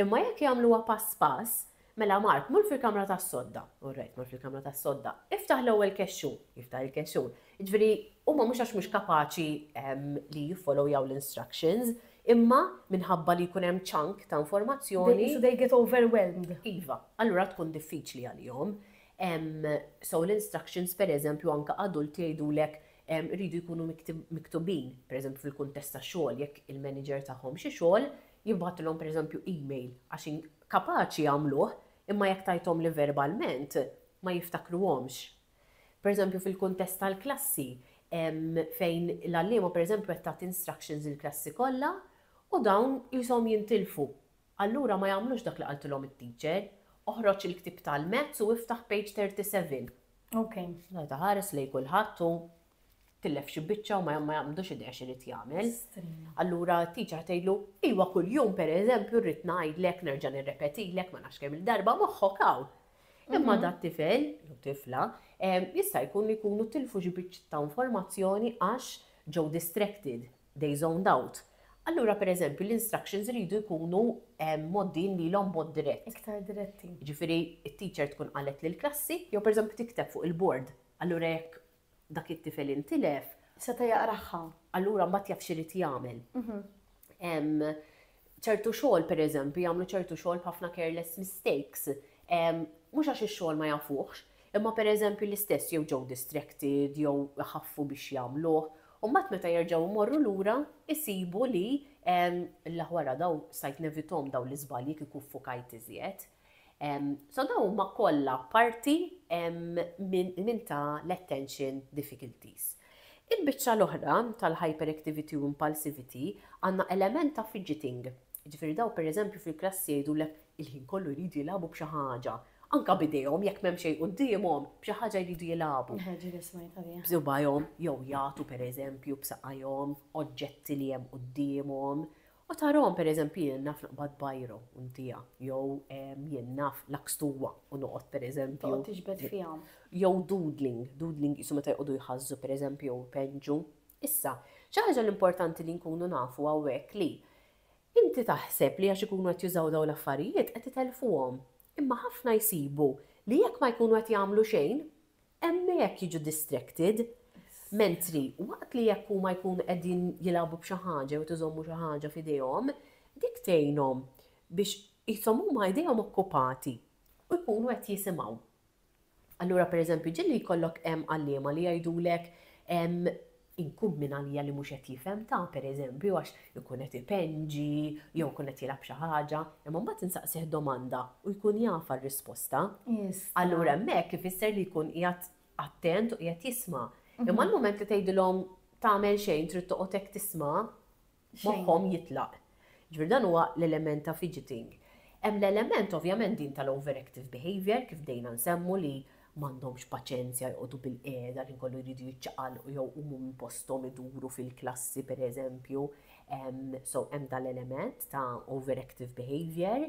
Imma jekk jagħmluha pass pass, mela Mark mur fil-kamra tas-sodda, orrajt mur fil-kamra tas-sodda, iftaħ l-ewwel kexxun, jiftaħ il-kexxun, Jiġifieri huma mhux għax mhux kapaċi li jiffollowjaw l-instructions, imma minħabba li jkun hemm chunk ta' informazzjoni. Qisu they get overwhelmed. Iva, allura tkun diffiċli għalihom. So l-instructions pereżempju anke adulti jgħidulek iridu jkunu miktubin, pereżempju fil-kuntest ta' xogħol jekk il-manager tagħhom xi xogħol jibgħatilhom pereżempju email għax kapaċi jagħmluh imma jekk tgħidhom li verbalment ma jiftakruhomx. Pereżempju fil-kuntest tal-klassi hemm fejn l-għalliema pereżempju qed tagħti instructions lill-klassi kollha u dawn qishom jintilfu. Allura ma jagħmlux dak li qaltilhom it-teacher. Oħroġ il-ktieb tal-maths u iftaħ page 37. Ok. Mela taħares lejn kulħadd u tillef xi biċċa u ma jagħmlux idea x'irid jagħmel. Allura t-tiċa tgħidlu, iwa kuljum pereżempju rrid ngħidlek nerġa' nirrepetilek ma nafx kemm il-darba moħħok hawn. Imma mhm. dat tifel, jew tifla, jista' jkun li jkunu tilfu xi biċċ ta' informazzjoni għax ġew distracted, they zoned out. Allura per eżempju l-instructions rridu jkunu moddin li l-om mod dirett. Iktar diretti. Ġifiri, il-teacher tkun qalet l klassi jew per eżempju tikteb fuq il-bord. Allura jekk dak it-tifel intilef, seta' jaqragħha, allura mbagħad jaf x'irid jagħmel. Hemm ċertu xogħol pereżempju jagħmlu ċertu xogħol b'ħafna careless mistakes. Mhux għax ix-xogħol ma jafuhx, imma pereżempju l-istess jew ġew distracted jew iħaffu biex jagħmluh, u mbagħad meta jerġgħu jmorru lura isibu li, L-aħ wara dawn stajt nevithom dawn l-iżbalji kieku ffukajt iżjed. So dawn huma kollha parti minn ta' l-attention difficulties. Il-biċċa l-oħra tal-hyperactivity u impulsivity għandna element ta' fidgeting. Jiġifieri dawn pereżempju fil-klassi jgħidulek il-ħin kollu jridu jilagħbu b'xi ħaġa. Anke b'idejhom jekk m'hemm xejn quddiemhom, b'xi ħaġa jridu jilagħbu. B'sibgħajhom jew jagħtu pereżempju b'saqajhom oġġetti li hemm quddiemhom. U tarahom, per eżempju, jien naf noqbad bajro u ntiha, jew jien naf lakstuwa u noqgħod per eżempju. Toqgħod tiġbed fiha. Jew doodling, doodling qisu meta jqogħdu jħażżu per eżempju jew ipenġu. Issa, xi ħaġa l-importanti li nkunu nafu hawnhekk li inti taħseb li għax ikunu qed jużaw dawn l-affarijiet qed itellfuhom. Imma ħafna jsibu li jekk ma jkunu qed jagħmlu xejn, hemmhekk jiġu distracted, mentri waqt li jekk huma jkunu qegħdin jilagħbu b'xi ħaġa jew qed iżommu xi ħaġa f'idejhom, dik tgħinhom biex qishom huma idejhom okkupati u jkunu qed jisimgħu. Allura pereżempju ġieli jkollok hemm għalliema li jgħidulek Inkun min għalija li mhux qed jifhem, ta' per eżempju għax ikun qed ipenġi jew ikun qed jilgħab xi ħaġa, imma mbagħad insaqsih domanda u jkun jaf għar-risposta, allura hemmhekk ifisser li jkun qiegħed attent u qiegħed jisma'. Imma l-mument li tgħidilhom tagħmel xejn trid toqgħod hekk tisma', moħħhom jitlaq. Jiġifieri dan huwa l-element ta' fidgeting. Hemm l-element ovvjament din tal-overactive behaviour kif bdejna nsemmu li m'għandhomx paċenzja joqogħdu bilqiegħda ħin kollu jridu jiċċaqalqu jew iqumu minn posthom iduru fil-klassi pereżempju. So hemm dal-element ta' overactive behaviour.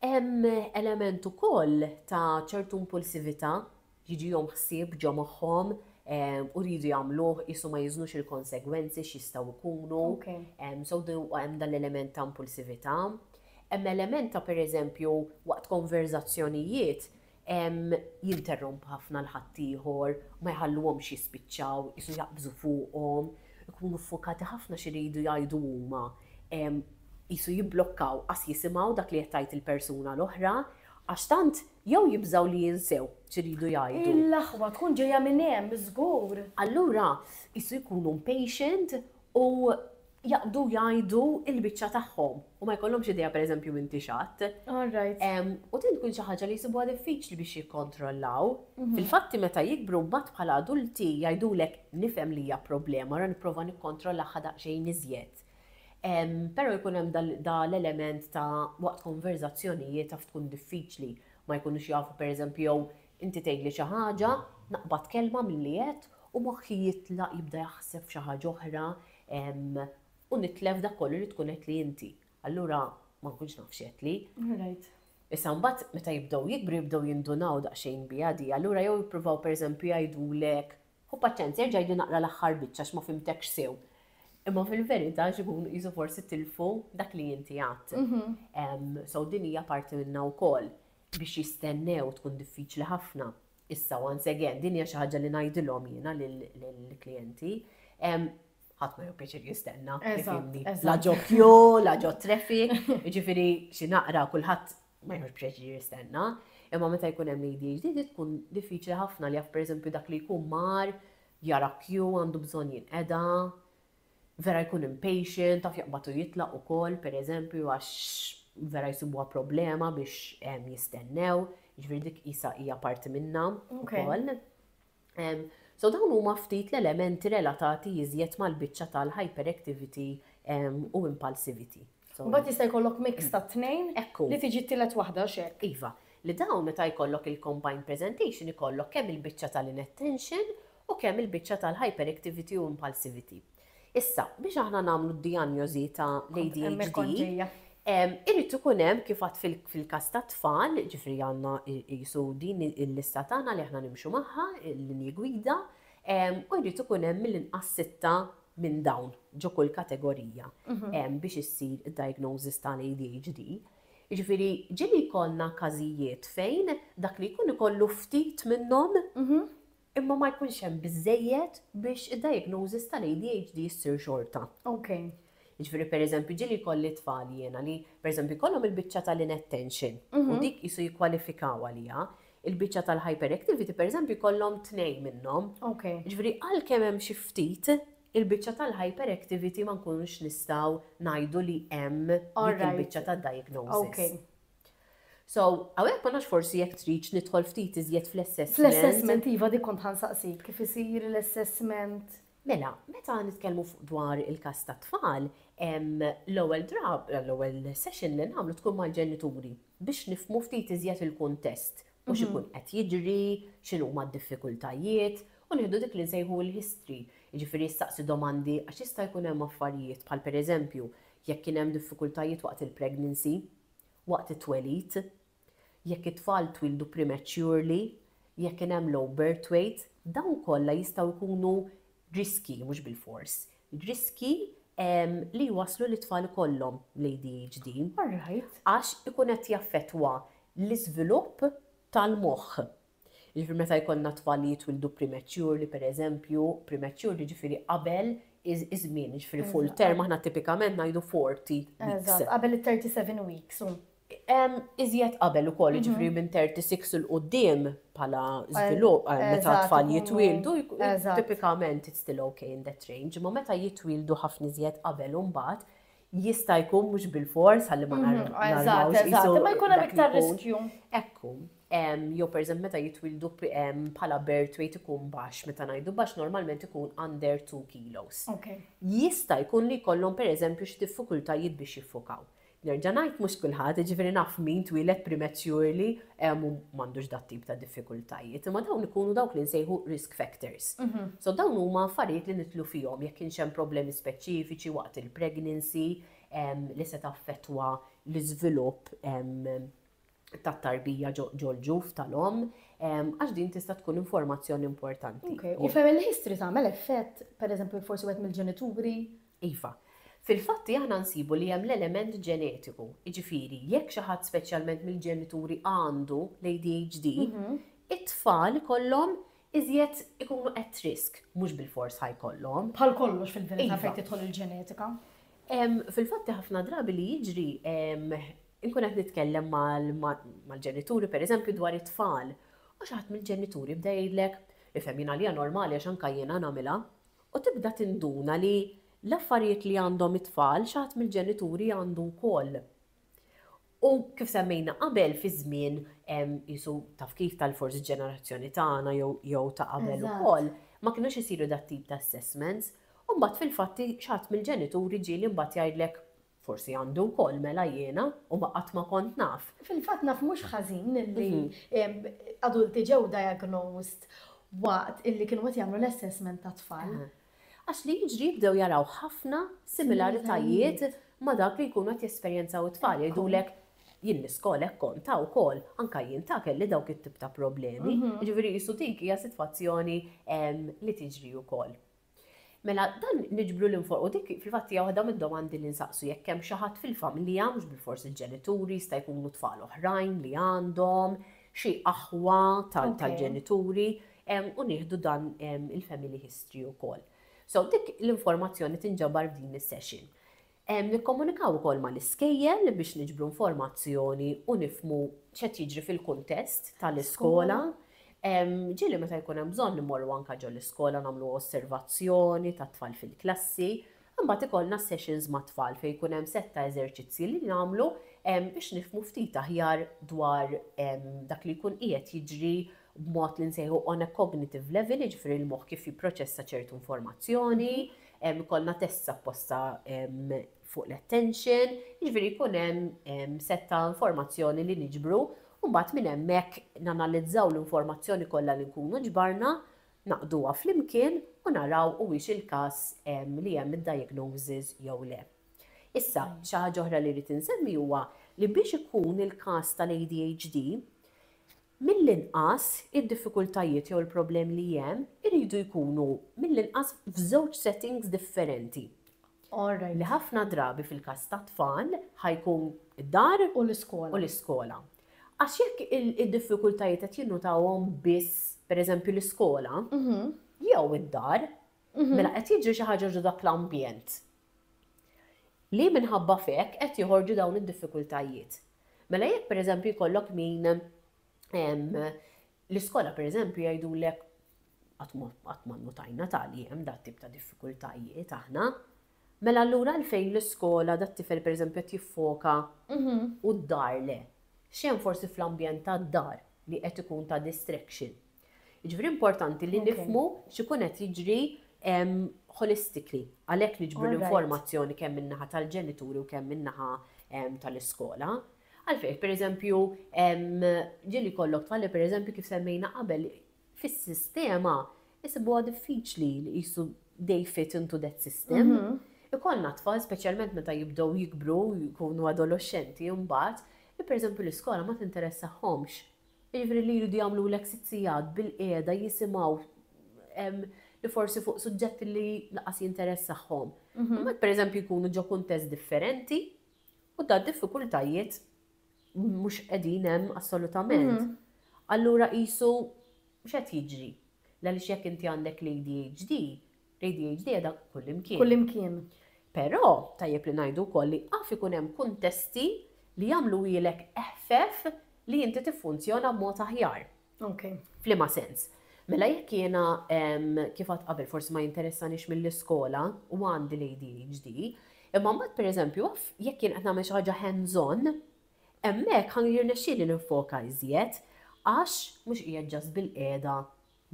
Hemm element ukoll ta' ċertu impulsività, jiġihom ħsieb ġo moħħhom u jridu jagħmluh qiesu ma jiżnux il-konsegwenzi x'jistgħu jkunu. So hemm dan l-element ta' impulsività. Hemm element ta' pereżempju waqt konverżazzjonijiet jinterromp ħafna 'l ħaddieħor, ma jħalluhomx jispiċċaw, qisu jaqbżu fuqhom, ikunu ffukati ħafna x'iridu jgħidu huma, qisu jibblokkaw, qas jisimgħu dak li qed tgħid il-persuna l-oħra, għax tant jew jibżgħu li jinsew x'iridu jgħidu. Il-laħwa tkun ġejja minn hemm, żgur. Allura, qisu jkunu impatient u jaqbdu jgħidu l-biċċa tagħhom u ma jkollhomx idea pereżempju m'intix x'għadt. All right. U din tkun xi ħaġa li jsibuha diffiċli biex jikkontrollaw. Fil-fatti meta jikbru mbagħad bħala adulti jgħidulek nifhem li hija problema ra nipprova nikkontrollagħha daqsxejn iżjed. Però jkun hemm da l-element ta' waqt konverżazzjonijiet taf tkun diffiċli, ma jkunux jafu pereżempju jew Inti tgħidli xi ħaġa, naqbad kelma milli għedt u moħħi jitlaq jibda jaħseb f'xi ħaġa oħra u nitlef dak kollu li tkun għedtli inti. Allura ma nkunx naf x'għedtli. Issa mbagħad meta jibdew jikbru jibdew jindunaw daqsxejn biha di, allura jew jippruvaw pereżempju jgħidulek, Ħu paċenzja, erġa' għidli naqra l-aħħar biċċa għax ma fhimtekx sew. Imma fil-verità għax ikunu qisu forsi tilfu dak li inti għedt. So din hija parti minnha wkoll. biex jistennew tkun diffiċli ħafna. Issa once again, din hija xi ħaġa li ngħidilhom jiena lill-klijenti, ħadd ma jew pjaċir jistenna. La ġo kju, la ġo traffic, jiġifieri xi naqra kulħadd ma jħoġ pjaċir jistenna. Imma meta jkun hemm ADHD di tkun diffiċli ħafna li jaf pereżempju dak li jkun mar, jara kju għandu bżonn jinqeda, Vera jkun impatient, taf jaqbad u jitlaq ukoll, pereżempju, għax vera jsibuha problema biex jistennew, jiġifieri dik qisha hija parti minnha wkoll. So dawn huma ftit l-elementi relatati iżjed mal-biċċa tal-hyperactivity u impulsivity. Mbagħad jista' jkollok mix mm. tat-tnejn li tiġi t-tielet waħda x'hekk. Iva, li dawn meta jkollok il-combined presentation ikollok kemm il-biċċa tal-inattention u kemm il-biċċa tal-hyperactivity u impulsivity. Issa, biex aħna nagħmlu d-dijanjożi ta' l-ADHD, irrid ikun hemm kif għad fil-każ ta' tfal, ġifri għandna jisu din il-lista tagħna li aħna nimxu magħha, l-linji gwida, u jrid ikun hemm mill-inqas sitta minn dawn ġo kull kategorija hemm biex issir id-diagnosis tal-ADHD. Jiġifieri ġieli jkollna każijiet fejn dak li jkun ikollu ftit minnhom imma ma jkunx hemm biżżejjed biex id-diagnosis tal-ADHD ssir xorta. Jiġifieri pereżempju ġieli jkolli tfal jiena li pereżempju jkollhom il-biċċa tal-inattention u dik qisu jikkwalifikaw għaliha, Il-biċċa tal-hyperactivity pereżempju jkollhom tnejn minnhom. Okay. Ġifieri għalkemm hemm xi ftit, il-biċċa tal-hyperactivity ma nkunux nistgħu ngħidu li hemm dik il-biċċa tad-diagnosis. Okay. So, għawek ma nax forsi jek triċ nidħol ftit iżjed fl-assessment. Fl-assessment, iva di kont ħansaqsik, kif isir l-assessment? Mela, meta nitkellmu fuq dwar il-każ tat-tfal, l-ewwel drab, l-ewwel session li nagħmlu tkun mal-ġenituri biex nifhmu ftit iżjed il-kuntest u x'ikun qed jiġri, x'inhuma d-diffikultajiet u nieħdu dik li nsejħu l-history, jiġifieri nsaqsi domandi għax jista' jkun hemm affarijiet bħal pereżempju jekk kien hemm diffikultajiet waqt il-pregnancy, waqt it-twelid, Jekk it-tfal twieldu prematurely, jekk kien hemm low birth weight, dawn kollha jistgħu jkunu riskji, mhux bilfors, riskji li jwasslu lit-tfal ikollhom l-ADHD. Għax ikun qed jaffettwa l-iżvilupp tal-moħħ. Jiġifieri meta jkollna tfal li jitwieldu prematurely, pereżempju, prematurely jiġifieri qabel iż-żmien, jiġifieri full term aħna tipikament ngħidu 40 weeks. Eżatt, qabel it-37 weeks. iżjed qabel ukoll, jiġifieri minn 36 'il quddiem bħala żvilupp, meta t-tfal jitwieldu, tipikament it's still okay in that range, imma meta jitwieldu ħafna iżjed qabel u mbagħad jista' jkun mhux bilfors ħalli ma narmawx isu. Ma jkun hemm iktar riskju. Ekku. Jew pereżempju meta jitwieldu bħala birth weight ikun baxx, meta ngħidu baxx normalment ikun under 2 kilos. Jista' jkun li jkollhom pereżempju xi diffikultajiet biex jiffukaw. Nerġa' ngħid mhux kulħadd, jiġifieri naf min twieled prematurely u m'għandux dat-tip ta' diffikultajiet, imma dawn ikunu dawk li nsejħu risk factors. So dawn huma affarijiet li nidħlu fihom jekk kienx hemm problemi speċifiċi waqt il-pregnancy li se taffettwa l-iżvilupp tat-tarbija ġol-ġuf tal-omm, għax din tista' tkun informazzjoni importanti. Ok, u family history tagħmel effett, pereżempju forsi wieħed mill-ġenituri? Iva. Fil-fatti aħna nsibu li hemm l-element ġenetiku, jiġifieri jekk xi ħadd speċjalment mill-ġenituri għandu l-ADHD, mhm. it-tfal ikollhom iżjed ikunu at risk, mhux bil-fors ħajkollhom. Bħal kollox fil-verità iva. fejn tidħol il-ġenetika. Fil-fatti ħafna drabi li jiġri Inkun qed nitkellem mal-ġenituri pereżempju dwar it-tfal u xi ħadd mill-ġenituri jibda jgħidlek, ifhem jien għalija normali għax anke jiena nagħmilha, u tibda tinduna li l-affarijiet li għandhom it-tfal xi ħadd mill-ġenituri għandu wkoll. U kif semmejna qabel fi żmien qisu taf kif tal-forsi ġenerazzjoni tagħna jew ta' qabel ukoll, ma kinux isiru dat-tip ta' assessments, u mbagħad fil-fatt xi ħadd mill-ġenituri ġieli mbagħad jgħidlek Forsi għandu wkoll mela jiena u ma qatt ma kont naf. Fil-fatt naf mhux ħażin li adulti ġew diagnosed waqt illi kienu qed jagħmlu l-assessment tat-tfal. Għax li jiġri jibdew jaraw ħafna similaritajiet ma' dak li jkunu qed jesperjenzaw it-tfal. Jgħidulek jien l-iskola hekk kont ta' wkoll, anke jien ta' kelli dawk it-tip ta' problemi. Jiġifieri qisu dik hija sitwazzjoni li tiġri wkoll. Mela dan niġbru lil fuq u dik fil-fatt hija waħda mid-domandi li nsaqsu jekk hemm xi ħadd fil-familja, mhux bilfors il-ġenituri, jista' jkunu tfal oħrajn li għandhom, xi aħwa tal-ġenituri, u nieħdu dan il-family history wkoll. So dik l-informazzjoni tinġabar f'din is-session. Nikkomunikaw ukoll mal-iskejjel biex niġbru informazzjoni u nifhmu x'qed jiġri fil-kuntest tal-iskola. Ġieli meta jkun hemm bżonn immorru anke ġol-iskola nagħmlu osservazzjoni tat-tfal fil-klassi. Imbagħad ikollna sessions mat-tfal fejn jkun hemm sett ta' eżerċizzji li nagħmlu biex nifhmu ftit aħjar dwar dak li jkun qiegħed jiġri b'mod li nsejħu on a cognitive level, jiġifieri l-moħħ kif jipproċessa ċertu informazzjoni, ikollna tests apposta fuq l-attention, jiġifieri jkun hemm set ta' informazzjoni li niġbru u mbagħad minn hemmhekk nanalizzaw l-informazzjoni kollha li nkunu ġbarna, naqduha flimkien u naraw huwiex il-każ li hemm id-diagnosis jew le. Issa, xi ħaġa oħra li rrid insemmi huwa li biex ikun il-każ tal-ADHD, Mill-inqas, id-diffikultajiet jew il-problemi li hemm iridu jkunu mill-inqas f'żewġ settings differenti. Li ħafna drabi fil-każ tat-tfal ħa jkun id-dar u l-iskola. Għax jekk id-diffikultajiet qed jinnotawhom biss, pereżempju, l-iskola jew id-dar, mela qed jiġri xi ħaġa ġo dak l-ambjent li minħabba f'hekk qed joħorġu dawn id-diffikultajiet. Mela jekk pereżempju jkollok min l-iskola pereżempju jgħidulek qatt ma nnutajna tali hemm dat tip ta' diffikultajiet aħna, mela allura għalfejn l-iskola dat-tifel pereżempju qed jiffoka u d-dar le? X'hemm forsi fl-ambjent tad-dar li qed ikun ta' distraction? Jiġifieri importanti li nifhmu x'ikun qed jiġri holistically, għalhekk niġbru l-informazzjoni kemm min-naħa tal-ġenituri u kemm min-naħa tal-iskola. Għalfejn, pereżempju, ġieli jkollok tfal li pereżempju kif semmejna qabel fis-sistema isibuha diffiċli li qisu they fit into that system. Mhm. Ikollna tfal, speċjalment meta jibdew jikbru, jkunu adoloxxenti mbagħad, li pereżempju l-iskola ma tinteressahomx. Jiġifieri li jridu jagħmlulek sitt sigħat bilqiegħda jisimgħu li forsi fuq suġġetti li laqas jinteressahom. Imma pereżempju jkunu ġo kuntest differenti u da diffikultajiet mhux qegħdin hemm assolutament. Allura qisu x'qed jiġri? L-għaliex jekk inti għandek l-ADHD, L-ADHD qiegħda kullimkien. Kullimkien. Però, tajjeb li ngħidu wkoll li jaf ikun hemm kuntesti li jagħmluhielek eħfef li inti tiffunzjona b'mod aħjar. Ok. F'liema sens? Mela jekk jiena, kif għedt qabel, forsi ma jinteressanix mill-iskola u għandi l-ADHD, imma mbagħad pereżempju jaf jekk jien qed nagħmel xi ħaġa hands on, hemmhekk ħa jirnexxieli ninfoka iżjed għax mhux qiegħed just bilqiegħda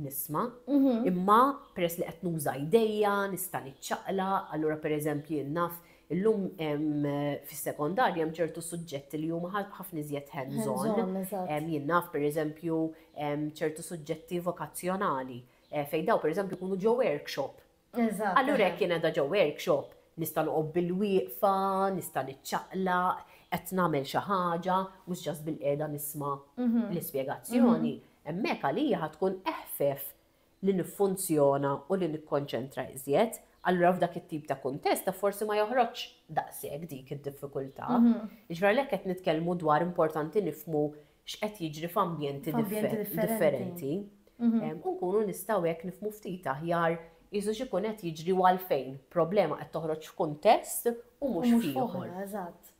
nisma', imma peress li qed nuża jdejja, nista' niċċaqlaq, allura pereżempju jien naf illum fis-sekondarja hemm ċertu suġġetti li huma ħafna iżjed hands on. Jien naf pereżempju ċertu suġġetti vokazzjonali fejn dawn pereżempju jkunu ġew workshop Eżatt. Allura jekk jien qiegħda ġo workshop, nista' noqgħod bilwieqfa, nista' niċċaqlaq, qed nagħmel xi ħaġa, mhux just bilqiegħda nisma' l-ispjegazzjoni, hemmhekk għalija ħa tkun eħfef li niffunzjona u li nikkonċentra iżjed. Allura f'dak it-tip ta' kuntest ta' forsi ma joħroġx daqshekk dik id-diffikultà. Jiġifieri għalhekk qed nitkellmu dwar importanti nifhmu x'qed jiġri f'ambjenti differenti. Mhm. U nkunu nistgħu hekk nifmu ftit aħjar jisu x'ikun qed jiġri u għalfejn problema qed toħroġ f'kuntest u mhux f'ieħor. Eżatt.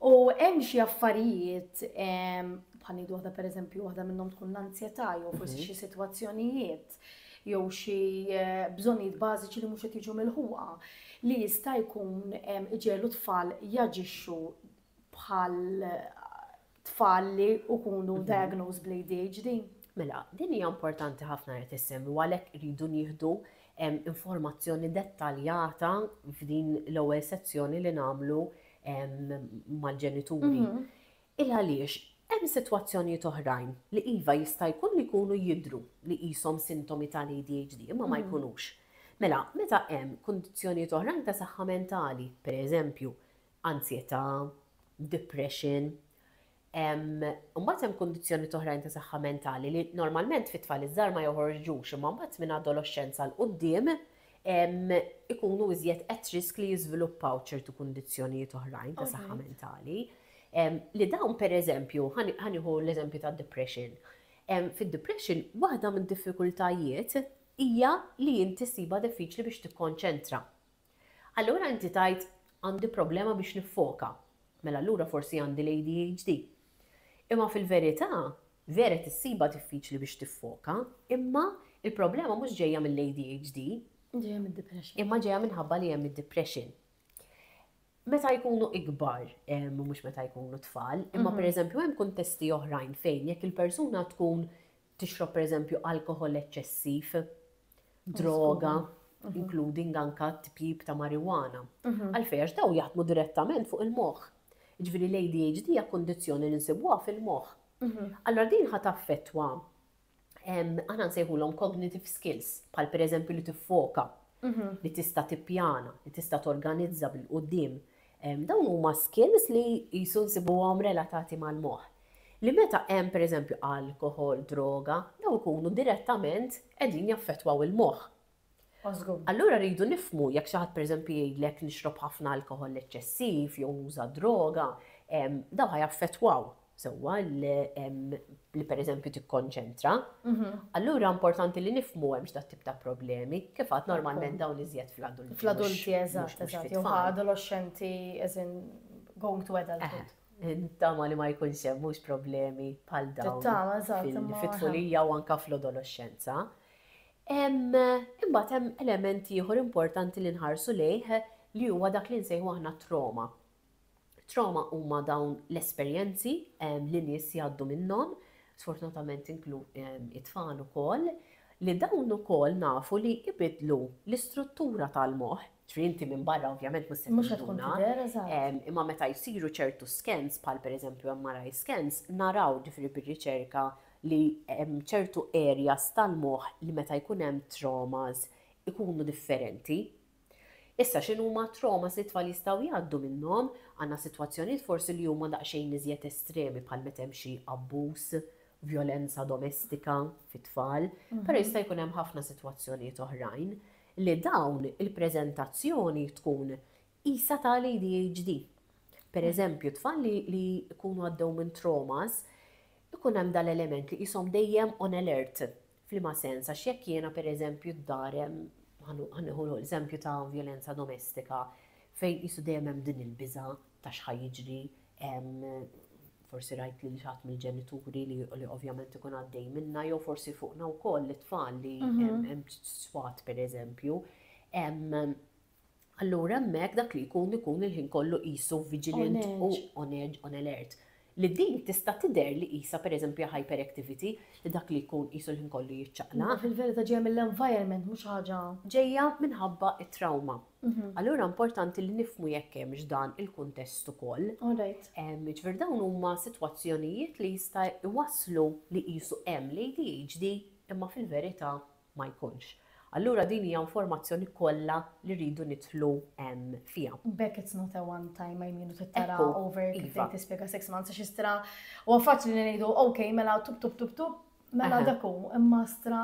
U hemm xi affarijiet bħal ngħidu waħda pereżempju waħda minnhom tkun l-anzjetà jew forsi mhm. xi sitwazzjonijiet jew xi eh, bżonnijiet bażiċi li mhux qed jiġu milħuqa li jista' jkun iġelu tfal jaġixxu bħal tfal li jkunu mhm. diagnosed bl-ADHD? Mela, din hija importanti ħafna li tissemmi għalhekk iridu nieħdu informazzjoni dettaljata f'din l-ewwel sezzjoni li nagħmlu mal-ġenituri. Mhm. Il għaliex hemm sitwazzjonijiet oħrajn li iva jista' jkun li jkunu jidru li qishom sintomi tal-ADHD imma ma mhm. jkunux. Mela, meta hemm kundizzjonijiet oħrajn ta' saħħa mentali, pereżempju, anzjetà, depression. Imbagħad hemm kundizzjonijiet oħrajn ta' saħħa mentali li normalment fit-tfal iż-żgħar ma joħorġux imma mbagħad minn adoloxxenza 'l quddiem ikunu iżjed at risk li jiżviluppaw ċertu kundizzjonijiet oħrajn ta' saħħa mentali. Li dawn pereżempju, ħa nieħu l-eżempju tad-depression. Fid-depression waħda mid-diffikultajiet hija li inti ssibha diffiċli biex tikkonċentra. Allura inti tgħid, Għandi problema biex niffoka. Mela allura forsi għandi l-ADHD. Imma fil-verità, vera tissibha diffiċli biex tiffoka, imma l-problema mhux ġejja mill-ADHD. Ġejja mid-depression. Imma ġejja minħabba li hemm id-depression. Meta jkunu ikbar, mhux meta jkunu tfal, imma mhm. pereżempju hemm kuntesti oħrajn fejn jekk il-persuna tkun tixrob pereżempju alkoħol eċċessiv, droga, including anke tpjip ta' marijuana. Għalfejn? Għax dawn jaħdmu direttament fuq il-moħħ. Jiġifieri l-ADHD hija kundizzjoni li nsibuha fil-moħħ. Allura din ħa taffettwa, aħna nsejħulhom cognitive skills, bħal pereżempju li tiffoka, li tista' tippjana, li tista' torganizza bil-quddiem, Dawn huma skills li qisu nsibuhom relatati mal-moħħ, li meta hemm pereżempju alkoħol, droga, dawn ikunu direttament qegħdin jaffettwaw il-moħħ. Allura rridu nifhmu jekk xi ħadd pereżempju jgħidlek nixrob ħafna alkoħol eċċessiv jew nuża droga, dawn ħa jaffettwaw sewwa li pereżempju tikkonċentra, allura importanti li nifhmu hemmx dat-tip ta' problemi, kif għedt normalment dawn iżjed fl-adulti. Fl-adulti, eżatt, eżatt, jew bħala adolexxenti, as in going to adulthood. Nittama li ma jkunx hemm mhux problemi bħal dawn. Nittama, eżatt, imma. Fit-tfulija u anke fl-adolexxenza. Imbagħad hemm element ieħor importanti li nħarsu lejh li huwa dak li nsejħu aħna trauma. Trauma huma dawn l-esperjenzi li nies jgħaddu minnhom, sfortunatament inklu it-tfal ukoll, li dawn ukoll nafu li ibiddlu l-istruttura tal-moħħ, ġifieri inti minn barra ovvjament mhux se tinduna. Mhux se tkun tidher, eżatt. Imma meta jsiru ċertu scans, bħal pereżempju MRI scans, naraw ġifieri bir-riċerka li hemm ċertu areas tal-moħħ li meta jkun hemm traumas ikunu differenti Issa x'inhuma t-traumas li t-tfal jistgħu jgħaddu minnhom? Għandna sitwazzjonijiet forsi li huma daqsxejn iżjed estremi bħal meta hemm xi abbuż, vjolenza domestika fit-tfal, però jista' jkun hemm ħafna sitwazzjonijiet oħrajn li dawn il-preżentazzjoni tkun qisha ta' l-ADHD. Per eżempju, tfal li jkunu għaddew minn traumas ikun hemm dan l-element li qishom dejjem on alert, F'liema sens? Għax jekk jiena pereżempju d-dar hemm, ħa nieħu l-eżempju ta' vjolenza domestika, fejn qisu dejjem hemm din il-biża' ta' x'ħa jiġri, forsi rajt lil xi ħadd mill-ġenituri li ovvjament ikun għaddej minnha jew forsi fuqna wkoll it-tfal li hemm swat pereżempju. allura hemmhekk dak li jkun ikun il-ħin kollu qisu vigilant u on edge, on alert. Li din tista' tidher li qisha pereżempju hyperactivity, li dak li jkun qisu l-ħin kollu jiċċaqlaq. Imma fil-verità ġejja mill-environment mhux ħaġa. Ġejja minħabba t-trawma. Allura importanti li nifhmu jekk hemmx dan il-kuntest ukoll. Jiġifieri dawn huma sitwazzjonijiet li jista' jwasslu li qisu hemm l-ADHD imma fil-verità ma jkunx. Allura din hija informazzjoni kollha li rridu nidħlu fiha. B'hekk it's not a one time, I mean u tittara over kif qed tispjega six months għax istra huwa faċli li ngħidu ok mela tub tub tub tub mela dak hu imma istra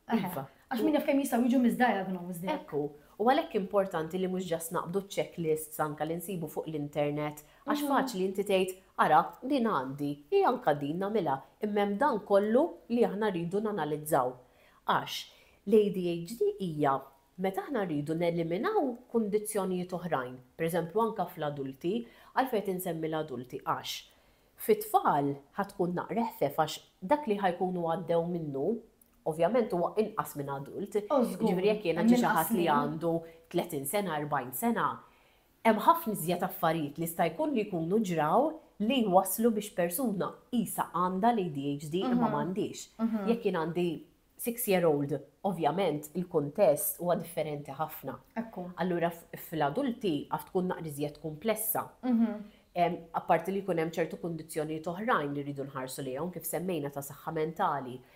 għax min jaf kemm jistgħu jiġu misdiagnosed. Ekku, u għalhekk importanti li mhux ġast naqbdu checklists anke li nsibu fuq l-internet Għax faċli inti tgħid, ara, din għandi, hi anke din nagħmilha, imma hemm dan kollu li aħna rridu nanalizzaw. Għax, l-ADHD hija meta aħna rridu neliminaw kundizzjonijiet oħrajn, pereżempju anke fl-adulti, għalfejn qed insemmi l-adulti, għax fit-tfal ħa tkun naqra eħfef għax dak li ħa jkunu għaddew minnu, ovvjament huwa inqas minn adult, jiġifieri jekk jiena ġie xi ħadd li għandu 30 sena, 40 sena, Hemm ħafna iżjed affarijiet li jista' jkun li jkunu ġraw li jwasslu biex persuna qisha għandha l-ADHD imma ma għandhiex. Jekk jien għandi six year old, ovvjament il-kuntest huwa differenti ħafna. Allura fl-adulti af tkun naqra iżjed kumplessa. Apparti li jkun hemm ċertu kundizzjonijiet oħrajn li rridu nħarsu lejhom kif semmejna ta' saħħa mentali,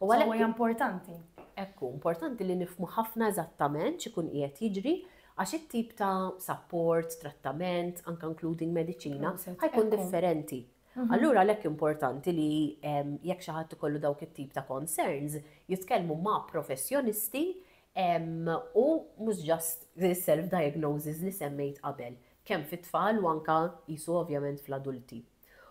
U għalhekk huwa importanti. Hekk hu, importanti li nifhmu ħafna eżattament x'ikun qiegħed jiġri għax it-tip ta' sapport, trattament, anke including mediċina, ħajkun differenti. Mhm. Allura għalhekk importanti li jekk xi ħadd ikollu dawk it-tip ta' concerns, jitkellmu ma' professjonisti u mhux just self-diagnosis li semmejt qabel, kemm fit-tfal u anka jisu ovvjament fl-adulti.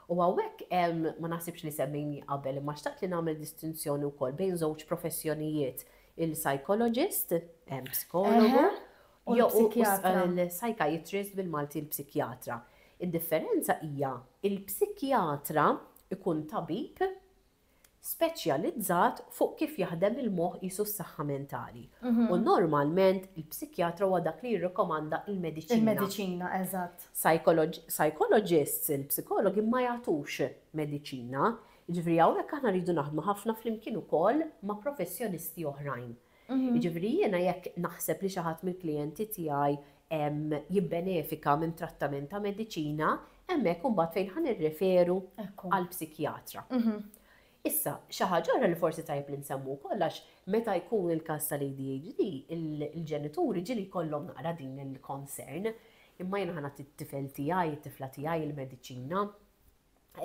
U hawnhekk hemm, ma naħsibx li semmejni qabel, imma xtaqt li nagħmel distinzjoni wkoll bejn żewġ professjonijiet, il-psychologist, psikologu, jew il-psychiatrist bil-Malti l-psikjatra. Id-differenza hija l-psikjatra jkun tabib speċjalizzat fuq kif jaħdem il-moħħ qisu s-saħħa mentali u normalment il-psikjatra huwa dak li jirrikomanda l-mediċina. Il-mediċina, eżatt. Psychologists, il-psikologi ma jagħtux mediċina, jiġifieri hawnhekk aħna rridu naħdmu ħafna flimkien ukoll ma' professjonisti oħrajn. Jiġifieri jiena jekk naħseb li xi ħadd mill-klijenti tiegħi jibbenefika minn trattament ta' mediċina, hemmhekk imbagħad fejn ħa nirreferu għal psikjatra. Issa, xi ħaġa oħra li forsi tajjeb li nsemmu wkoll għax meta jkun il-każ tal-ADHD, il-ġenituri ġieli jkollhom naqra din il-concern, imma jiena ħa nagħti t-tifel tiegħi, it-tifla tiegħi l-mediċina,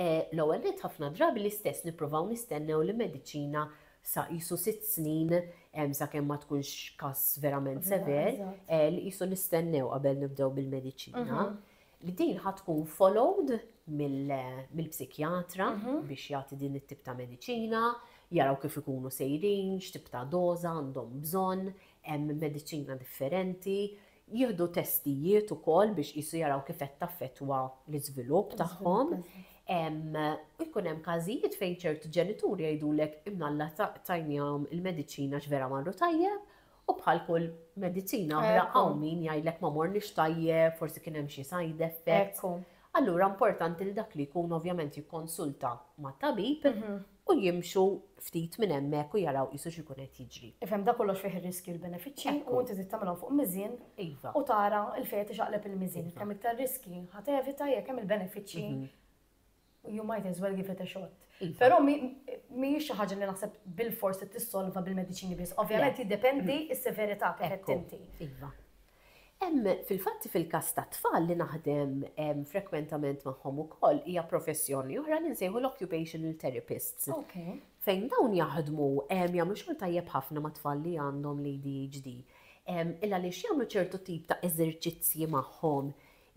L-ewwel nett ħafna drabi l-istess nippruvaw nistennew li mediċina sa qisu sitt snin sakemm ma tkunx każ verament sever, li qisu nistennew qabel nibdew bil-mediċina. Li din ħa tkun followed mill-psikjatra biex jagħti din it-tip ta' mediċina, jaraw kif ikunu sejrin, x'tip ta' doża għandhom bżonn, hemm mediċina differenti, Jieħdu testijiet ukoll biex qisu jaraw kif qed taffettwa l-iżvilupp tagħhom. U jkun hemm każijiet fejn ċerti ġenituri jgħidulek imnalla tajnihom il-mediċina għax vera marru tajjeb u bħal kull mediċina oħra hawn min jgħidlek ma morniex tajjeb, forsi kien hemm xi side effects. Allura importanti li dak li jkun ovvjament jikkonsulta ma' tabib u jimxu ftit minn hemmhekk u jaraw qisu x'ikun qed jiġri. Ifhem da kollox fih ir-riskji u l-benefiċċji u inti trid tagħmilhom fuq miżien Iva. u tara l-fejn qed ixaqleb il-miżien. Iva. Kemm iktar riskji ħa tevita jekk hemm il-benefiċċji you might as well give it a shot. Iva. Però mi- mhijiex xi ħaġa li naħseb bilfors trid tissolva bil-mediċini biss. Ovvjament jiddependi s-severità kif qed Ekku. inti. Iva. Hemm fil-fatt fil-każ tat-tfal li naħdem frekwentement magħhom ukoll hija professjoni oħra li nsejħu l-occupational therapists. Fejn dawn jaħdmu jagħmlu xogħol tajjeb ħafna mat-tfal li għandhom l-ADHD. Il għaliex jagħmlu ċertu tip ta' eżerċizzji magħhom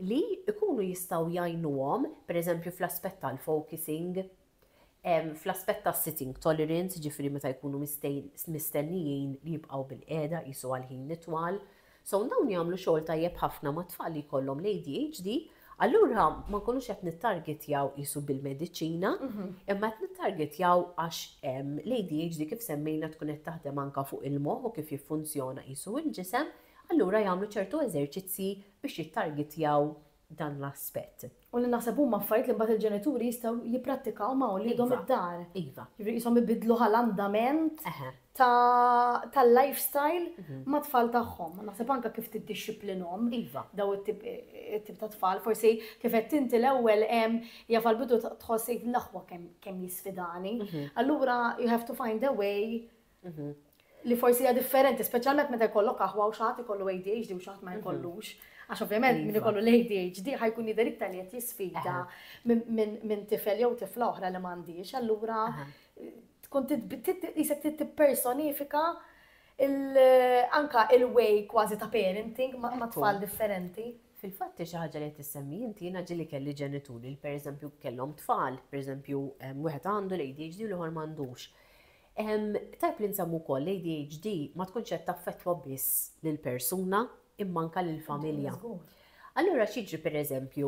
li jkunu jistgħu jgħinuhom, pereżempju fl-aspett tal-focusing, Fl-aspett ta' sitting tolerance, jiġifieri meta jkunu mistennijin li jibqgħu bilqiegħda qisu għal ħin itwal, so dawn jagħmlu xogħol tajjeb ħafna ma' tfal li jkollhom l-ADHD, allura ma nkunux qed nittargetjaw qisu bil-mediċina, imma qed nittargetjaw għax l-ADHD kif semmejna tkun qed taħdem anke fuq il-moħħ u kif jiffunzjona qisu l-ġisem, allura jagħmlu ċertu eżerċizzji biex jittargetjaw dan l-aspett. U li naħseb huma affarijiet li mbagħad il-ġenituri jistgħu jipprattikaw ma' uliedhom id-dar. Iva. Jiġifieri qishom ibiddlu ħa l-andament ta' tal-lifestyle mat-tfal tagħhom. U naħseb anke kif tiddixxiplinhom daw it-tip ta' tfal. Forsi kif għedt inti l-ewwel hemm jaf għall-bidu tħoss tgħid l-aħwa kemm kemm jisfidani. Allura you have to find a way li forsi hija differenti, speċjalment meta jkollok aħwa u xaħat ikollu ADHD u xaħat ma mhm. jkollux. Għax ovvjament min iva. ikollu l-ADHD ħajkun jidher iktar li qed jisfida minn tifel jew tifla oħra li m'għandix, allura tkun jisek tippersonifika anka il-way kważi ta' parenting ma' tfal differenti. Fil-fatt xi ħaġa li qed issemmi inti jiena ġili kelli ġenituri li pereżempju kellhom tfal, pereżempju wieħed għandu l-ADHD u l-ieħor m'għandux. Tajb li nsemmu wkoll li l-ADHD ma tkunx qed taffettwa biss lill-persuna imma anke lill-familja. Allura x'jiġri pereżempju,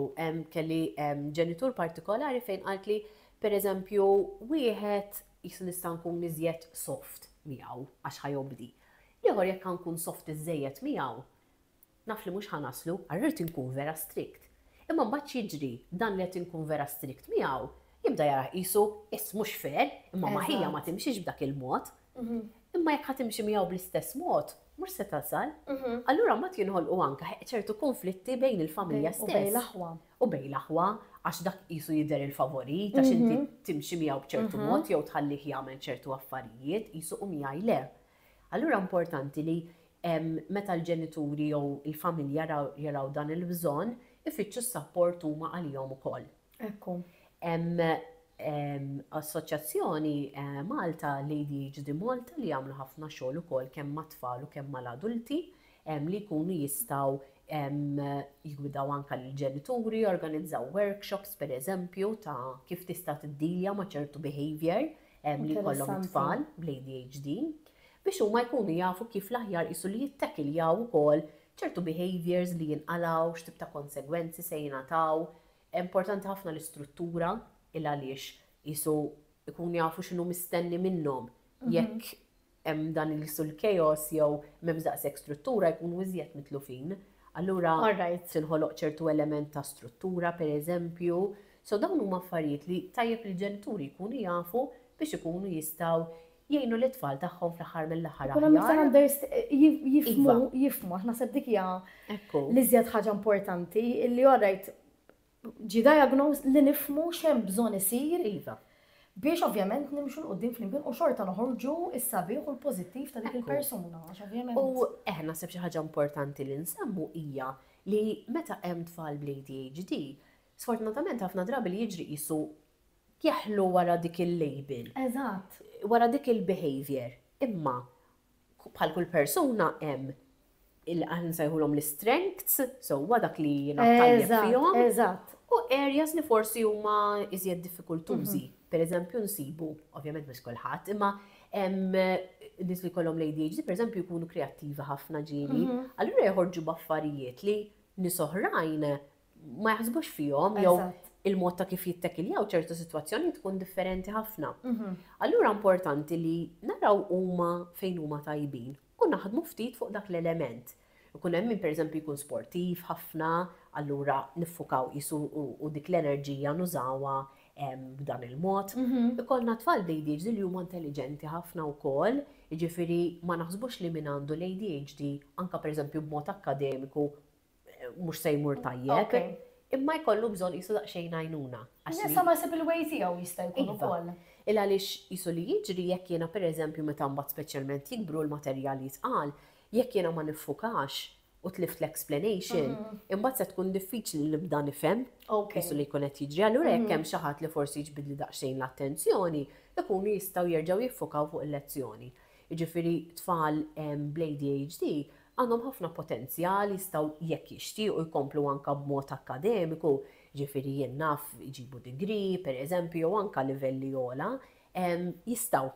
kelli ġenitur partikolari fejn qaltli pereżempju wieħed qisu nista' nkun iżjed soft miegħu għax ħa jobdi. L-ieħor jekk ħa nkun soft iżżejjed miegħu, Naf li mhux ħa naslu, ara rrid inkun vera strict. Imma mbagħad x'jiġri, dan li qed inkun vera strict miegħu, jibda jarah qisu, iss mhux fair, imma ma ħija ma timxix b'dak il-mod. Imma jekk ħa timxi miegħu bl-istess mod, mhux se tasal. Allura mbagħad jinħolqu anke ċertu kunflitti bejn il-familja stess. U bejn l-aħwa. U bejn l-aħwa, għax dak qisu jidher il-favorit, għax inti timxi miegħu b'ċertu mod jew tħallih jagħmel ċertu affarijiet, qisu u miegħi le. Allura importanti li meta l-ġenituri jew il-familja jaraw dan il-bżonn, ifittxu s-sapport huma għalihom ukoll. Ekku. Hemm assoċjazzjoni Malta, l-ADHD Malta, li jagħmlu ħafna xogħol ukoll kemm mat-tfal u kemm mal-adulti li jkunu jistgħu jgwidaw anke lill-ġenituri, jorganizzaw workshops pereżempju ta' kif tista' tiddilja ma' ċertu behaviour li jkollhom it-tfal bl-ADHD biex huma jkunu jafu kif l-aħjar qisu li jittekiljaw ukoll ċertu behaviours li jinqalgħu, x'tip ta' konsegwenzi se jingħataw. Importanti ħafna l-istruttura il-għaliex qisu jkunu jafu x'inhu mistenni minnhom jekk hemm dan li jissu l-chaos jew m'hemmx daqshekk struttura jkunu iżjed mitlufin. Allura tinħoloq ċertu element ta' struttura pereżempju. So dawn huma affarijiet li tajjeb li l-ġenituri jkunu jafu biex ikunu jistgħu jgħinu lit-tfal tagħhom fl-aħħar mill-aħħar aħjar. Ikun hemm iktar understanding, jifhmu, jifhmu, għax naħseb dik hija l-iżjed ħaġa importanti, illi alright ġie diagnosed li nifhmu x'hemm bżonn isir iva biex ovvjament nimxu 'l quddiem flimkien u xorta noħorġu s-sabiħ u l-pożittiv ta' dik il-persuna għax ovvjament. U eħe naħseb xi ħaġa importanti li nsemmu hija li meta hemm tfal bl-ADHD, sfortunatament ħafna drabi li jiġri qisu jeħlu wara dik il-label. Eżatt. Wara dik il-behavior. Imma bħal kull persuna hemm aħna nsejħulhom l-strengths, sewwa dak li jiena tajjeb fihom. Eżatt. U areas li forsi huma iżjed diffikultużi. Mhm. Per eżempju nsibu, ovvjament mhux kulħadd, imma hemm nies li kollhom l-ADHD, per eżempju jkunu kreattivi ħafna ġieli, mhm. allura joħorġu b'affarijiet li nies oħrajn ma jaħsbux fihom jew il-mod ta' kif jittekiljaw ċertu situazzjoni tkun differenti ħafna. Mhm. Allura importanti li naraw huma fejn huma tajbin u naħdmu ftit fuq dak l-element. Ikun hemm min pereżempju jkun sportiv ħafna, allura niffukaw jisu u dik l-enerġija nużawa b'dan il-mod. Mhm. Ikollna tfal bl-ADHD li huma intelligenti ħafna wkoll, jiġifieri ma naħsbux li min għandu l-ADHD anka pereżempju b'mod akkademiku mhux se jmur tajjeb, imma jkollu bżonn qisu daqsxejn għajnuna. Nisa ma jsib il-way tiegħu jista' jkun ukoll. Il għaliex qisu li jiġri jekk jiena pereżempju meta mbagħad speċjalment jikbru l-materjal jitqal, jekk jiena ma niffukax u tlift l-explanation, imbagħad se tkun diffiċli li nibda nifhem qisu li jkun qed jiġri. Allura jekk hemm xi ħadd li forsi jiġbidli daqsxejn l-attenzjoni, ikunu jistgħu jerġgħu jiffukaw fuq il-lezzjoni. Jiġifieri tfal bl-ADHD Għandhom ħafna potenzjal, jistgħu jekk jixtiequ jkomplu anke b'mod akkademiku, jiġifieri jien naf iġibu degree, pereżempju, jew anke livelli ogħla, jistgħu.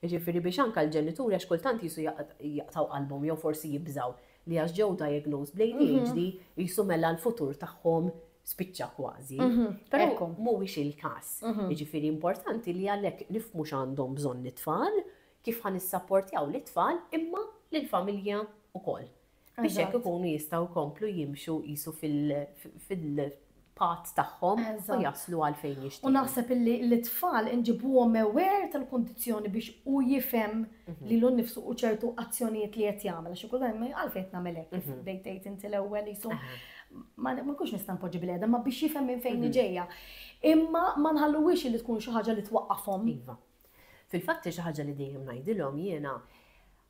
Jiġifieri biex anke l-ġenituri għax kultant qisu jaqtgħu qalbhom jew forsi jibżgħu li għax ġew diagnosed bl-ADHD qisu mela l-futur tagħhom spiċċa kważi. Però mhuwiex il-każ. Jiġifieri importanti li għalhekk nifhmu x'għandhom bżonn it-tfal, kif ħa nissapportjaw lit-tfal imma lill-familja wkoll biex hekk ikunu jistgħu jkomplu jimxu qisu fil-path tagħhom u jaslu għal fejn jixtiequ. U naħseb illi lit-tfal inġibuhom aware tal-kundizzjoni biex hu jifhem lilu nnifsu u ċertu azzjonijiet li qed jagħmel għax kultant ma għalfejn qed nagħmel hekk kif bdejt tgħid inti l-ewwel qisu ma nkunx nista' npoġġi bil-qiegħda ma biex jifhem minn fejn ġejja. Imma ma nħalluhiex li tkun xi ħaġa li twaqqafhom. Iva. Fil-fatt xi ħaġa li dejjem ngħidilhom jiena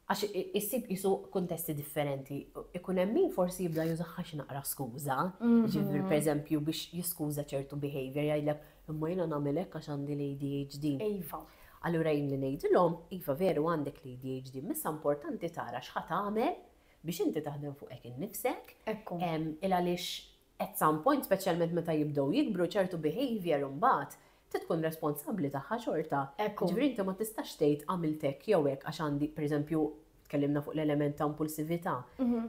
għax issib qisu kuntesti differenti. Ikun hemm min forsi jibda jużaha xi naqra skuża, ġifieri mhm. pereżempju biex jiskuża ċertu behavior jgħidlek imma jiena nagħmel hekk għax għandi l-ADHD. Iva. Allura jien li ngħidilhom, iva veru għandek l-ADHD, missa importanti tara x'ħa tagħmel biex inti taħdem fuqek innifsek. Ekku. Il għaliex At some point, speċjalment meta jibdew jikbru, ċertu behaviour imbagħad trid tkun responsabbli tagħha xorta. Jiġifieri inti ma tistax tgħid għamilt hekk jew hekk għax għandi, pereżempju, tkellimna fuq l-element ta' impulsività,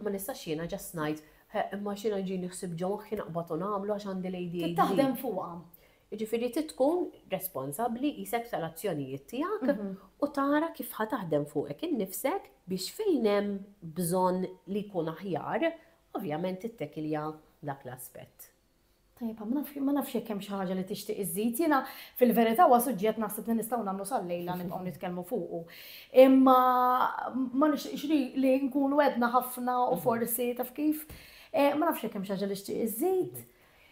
ma nistax jiena just ngħid, eh, imma għax jiena jġini ħsieb ġo moħħi naqbad u nagħmlu għax għandi l-ADHD. Trid taħdem fuqha. Jiġifieri trid tkun responsabbli qisek tal-azzjonijiet tiegħek u tara kif ħa taħdem fuqek innifsek biex fejn hemm bżonn li jkun aħjar, Ovvjament tittekilja dak l-aspett. Tajjeb, ma naf, ma nafx jekk hemm xi ħaġa li tixtieq iżżid. Jiena fil-verità huwa suġġett naħseb li nistgħu nagħmlu sal-lejla nibqgħu nitkellmu fuqu. Imma ma nixtieqx li li nkunu għedna ħafna u forsi taf kif. Eh, ma nafx jekk hemm xi ħaġa li xtieq iżżid.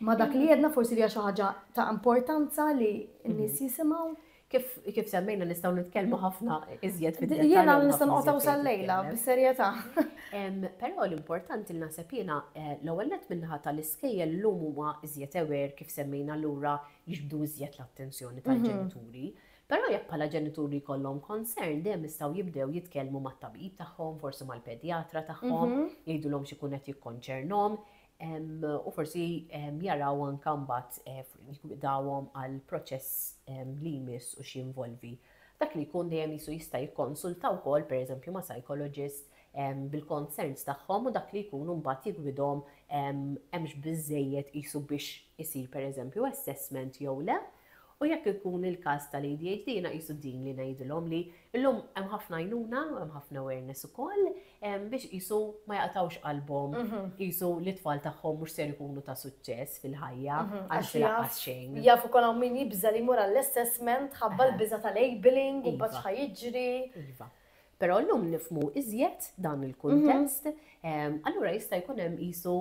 Ma dak li għedna forsi li hija xi ħaġa ta' importanza li n-nies jisimgħu. Kif semmejna nistgħu nitkellmu ħafna iżjed fid Jiena nista' noqgħodhom sal-lejla bis-serjetà. Però l-importanti li naħseb jiena eh, l-ewwel nett min-naħa tal-iskejjel llum huma iżjed aware kif semmejna lura jiġbdu iżjed l-attenzjoni mhm. tal-ġenituri. Però jekk bħala ġenituri jkollhom concern dejjem jistgħu jibdew jitkellmu mat-tabib tagħhom, forsi mal-pedjatra tagħhom, mhm. jgħidulhom x'ikun qed jikkonċernhom. u forsi jaraw anke mbagħad dawhom għal proċess li jmiss u x'jinvolvi. Dak li jkun dejjem jisu jista' jikkonsulta wkoll pereżempju ma' psychologist bil-concerns tagħhom u dak li jkunu mbagħad jigwidhom hemmx biżejjed qisu biex isir pereżempju assessment jew le. U jekk ikun il-każ tal-ADHD jiena qisu din li ngħidilhom li llum hemm ħafna għajnuna u hemm ħafna awareness ukoll biex qisu ma jaqtgħux qalbhom qisu li t-tfal tagħhom mhux ser ikunu ta' suċċess fil-ħajja għax laqqas xejn. Jaf ukoll hawn min jibża' li jmur għall-assessment ħabba l-biża' ta' labelling u mbagħad x'ħa jiġri. Iva. Però llum nifhmu iżjed dan il-kuntest, allura jista' jkun hemm qisu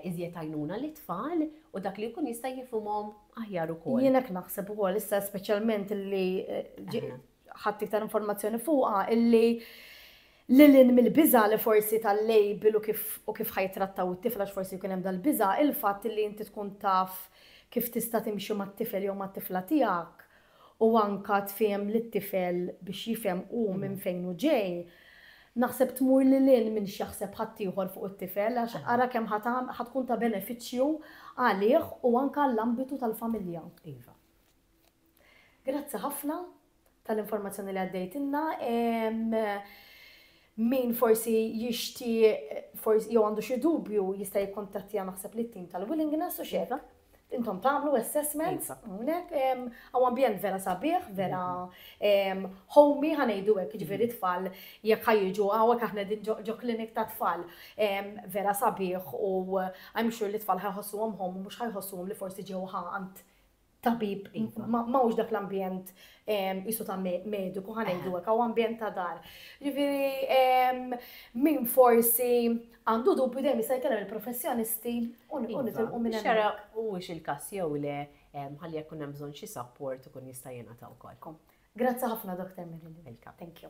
iżjed għajnuna lit-tfal u dak li jkun jista' jifhimhom aħjar ukoll. Jien hekk naħseb ukoll issa speċjalment li ħadt iktar informazzjoni fuqha illi lil hinn mill-biża' li forsi tal-label u kif ħa jittrattaw it-tifel għax forsi jkun hemm dal-biża', il-fatt illi inti tkun taf kif tista' timxi mat-tifel jew mat-tifla tiegħek u anke tfiehem lit-tifel biex jifhem hu minn fejn hu ġej, naħseb tmur lil hinn minn x'jaħseb ħaddieħor fuq it-tifel għax ara kemm ħa tagħmel ħa tkun ta' benefiċċju għalih u anke għall-ambitu tal-familja. Iva. Grazzi ħafna tal-informazzjoni li għaddejtilna. Min forsi jixtieq forsi jew għandu xi dubju jista' jikkuntattja naħseb lit-tim tal-Willingness u x'hekk. intom tagħmlu assessment, iva. hawnhekk għaw ambjent vera sabiħ, vera mhm. homey ħanejdu hekk ġifieri mhm. tfal jekk ħajġu hawnhekk aħna din ġo klinik ta' tfal vera sabiħ u I'm sure li tfal ħajħossuhom hom mhux ħajħossuhom li forsi ġew għand tabib, iva. ma mawx dak l-ambjent jisu ta' mediku ħanejdu għek, għaw ambjent ta' dar. Ġifiri, min forsi Għandu dubju dejjem jista' jkellem il-professjonisti u nitilqu minn hemmhekk. Iva, biex jara huwiex il-każ jew le, ħalli jekk ikun hemm bżonn xi support ikun jista' jingħata wkoll. Grazzi ħafna Dottor Marilyn. Welcome. Thank you.